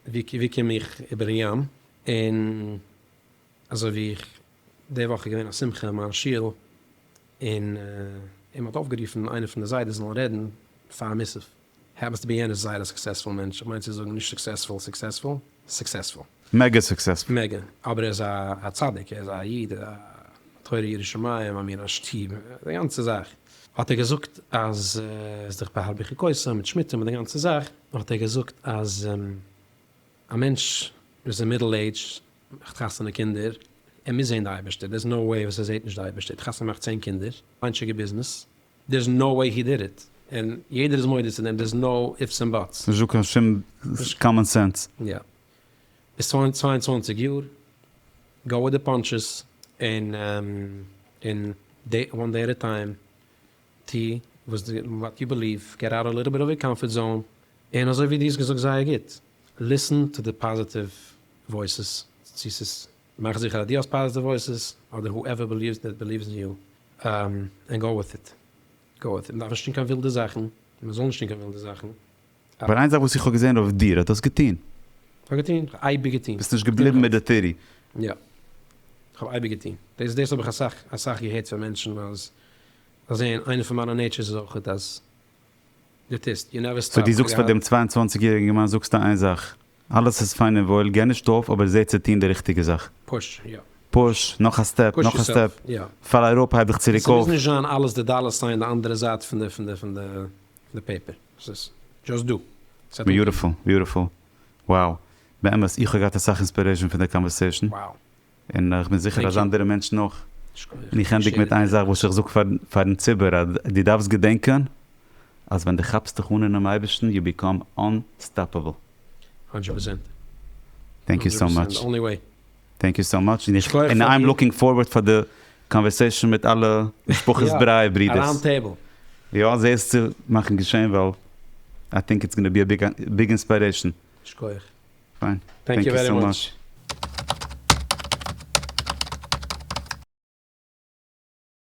וואו קום איך איבערן ים און אזוי ווי איך די וואך איז געווען א שמחה אין מיין שול. און אים האט אויפגערופן איינער פון די זיידעס זאלן רעדן פאר מיסף העפענס טו בי יענער איז זייער א סוקסעספול מענטש, איך מיין צו זאגן נישט סוקסעספול סוקסעספול, סוקסעספול. מעגא סוקסעספול. מעגא, אבער ער איז א א צדיק, ער איז א איד, א תורה ירא שמים, א מין א שטוב, די גאנצע זאך. האט ער געזאגט אז ער איז דורך בהרבה חוקותיו מיט שמיטה מיט די גאנצע זאך, האט ער געזאגט אז. א מענטש וואס איז אין מידל עידזש מאכט חתונה קינדער, ער מוז זען די אייבערשטער, דערס נאו וועי וואס ער זעט נישט די אייבערשטער, האט חתונה געמאכט צען קינדער, איינטשיגע ביזנעס, דערס נאו וועי הי דיד איט, און יעדער איז מודה צו דעם, דערס נאו איפס און באטס. נישט דא קיין שום קאמאן סענס. יא. ביסט צוויי און צוואַנציק יאר, גאו וויט די פאנטשעס, און און דעי וואן דעי עט א טיים, טו וואס די וואט יו בעליוו, געט אוט א ליטעל ביט אוו יור קאמפארט זאון, און אזוי ווי דו האסט געזאגט זייער גוט, ליסען טו די פאזיטיוו וואויסעס, צו ס'איז, מאך זיכער אז דו האסט פאזיטיוו וואויסעס, אדער הו עווער בעליווס דעט בעליווס אין יו, און גאו וויט איט, גאו וויט איט, מ'דארף נישט טון קיין ווילדע זאכן, און מ'זאל נישט טון קיין ווילדע זאכן, אבער איין זאך וואס איך האב געזען אויף דיר האט דאס געטון. כ'האב געטון? כ'האב אייביג געטון. ביסט נישט געבליבן מיט די טירי. יא. כ'האב אייביג געטון. דאס דאס האב איך אסאך אסאך געהערט פון מענטשן אז זיי זעען איינע פון מיינע נעיטשערס איז אויכעט אז דו טוסט, יו נעווער סטאפ. סאו דו זאגסט פאר דעם צוויי און צוואַנציק יעריגן אינגערמאן זאגסטו איין זאך, אלעס איז פיין און וואויל, גיי נישט אויף אבער זע צו טון די ריכטיגע זאך. פוש, יא. פוש, נאך א סטעפ, נאך א סטעפ, פאל אראפ, הייב דיך צוריק אויף. ס'מוז נישט זיין אלעס די דאלער סיין די אנדערע זייט פון די פון די פון די די פעיפער וואס איז דזשאסט דא. ביוטיפול ביוטיפול wow באמת איך האב געהאט אסאך אינספירעישאן פון די קאנווערסעישאן און איך בין זיכער אז אנדערע מענטשן אויך און איך ענדיג מיט איין זאך וואס איך זאג פארן ציבור אז דו דארפסט געדענקען אז ווען דו כאפסט דיך אן אינעם אייבערשטן יו ביקאם אנסטאפעבל. הונדרעט פערסענט. טענק יו סאו מאטש. טענק יו סאו מאטש, און איים לוקינג פארווארד פאר די קאנווערסעישאן מיט אלע משפחת ברייער ברידערס. יא, זע עס צו מאכן געשען ווייל איי טינק איטס גאנא בי א ביג אינספיירעישאן. שכוח. פיין. טענק יו ווערי מאטש.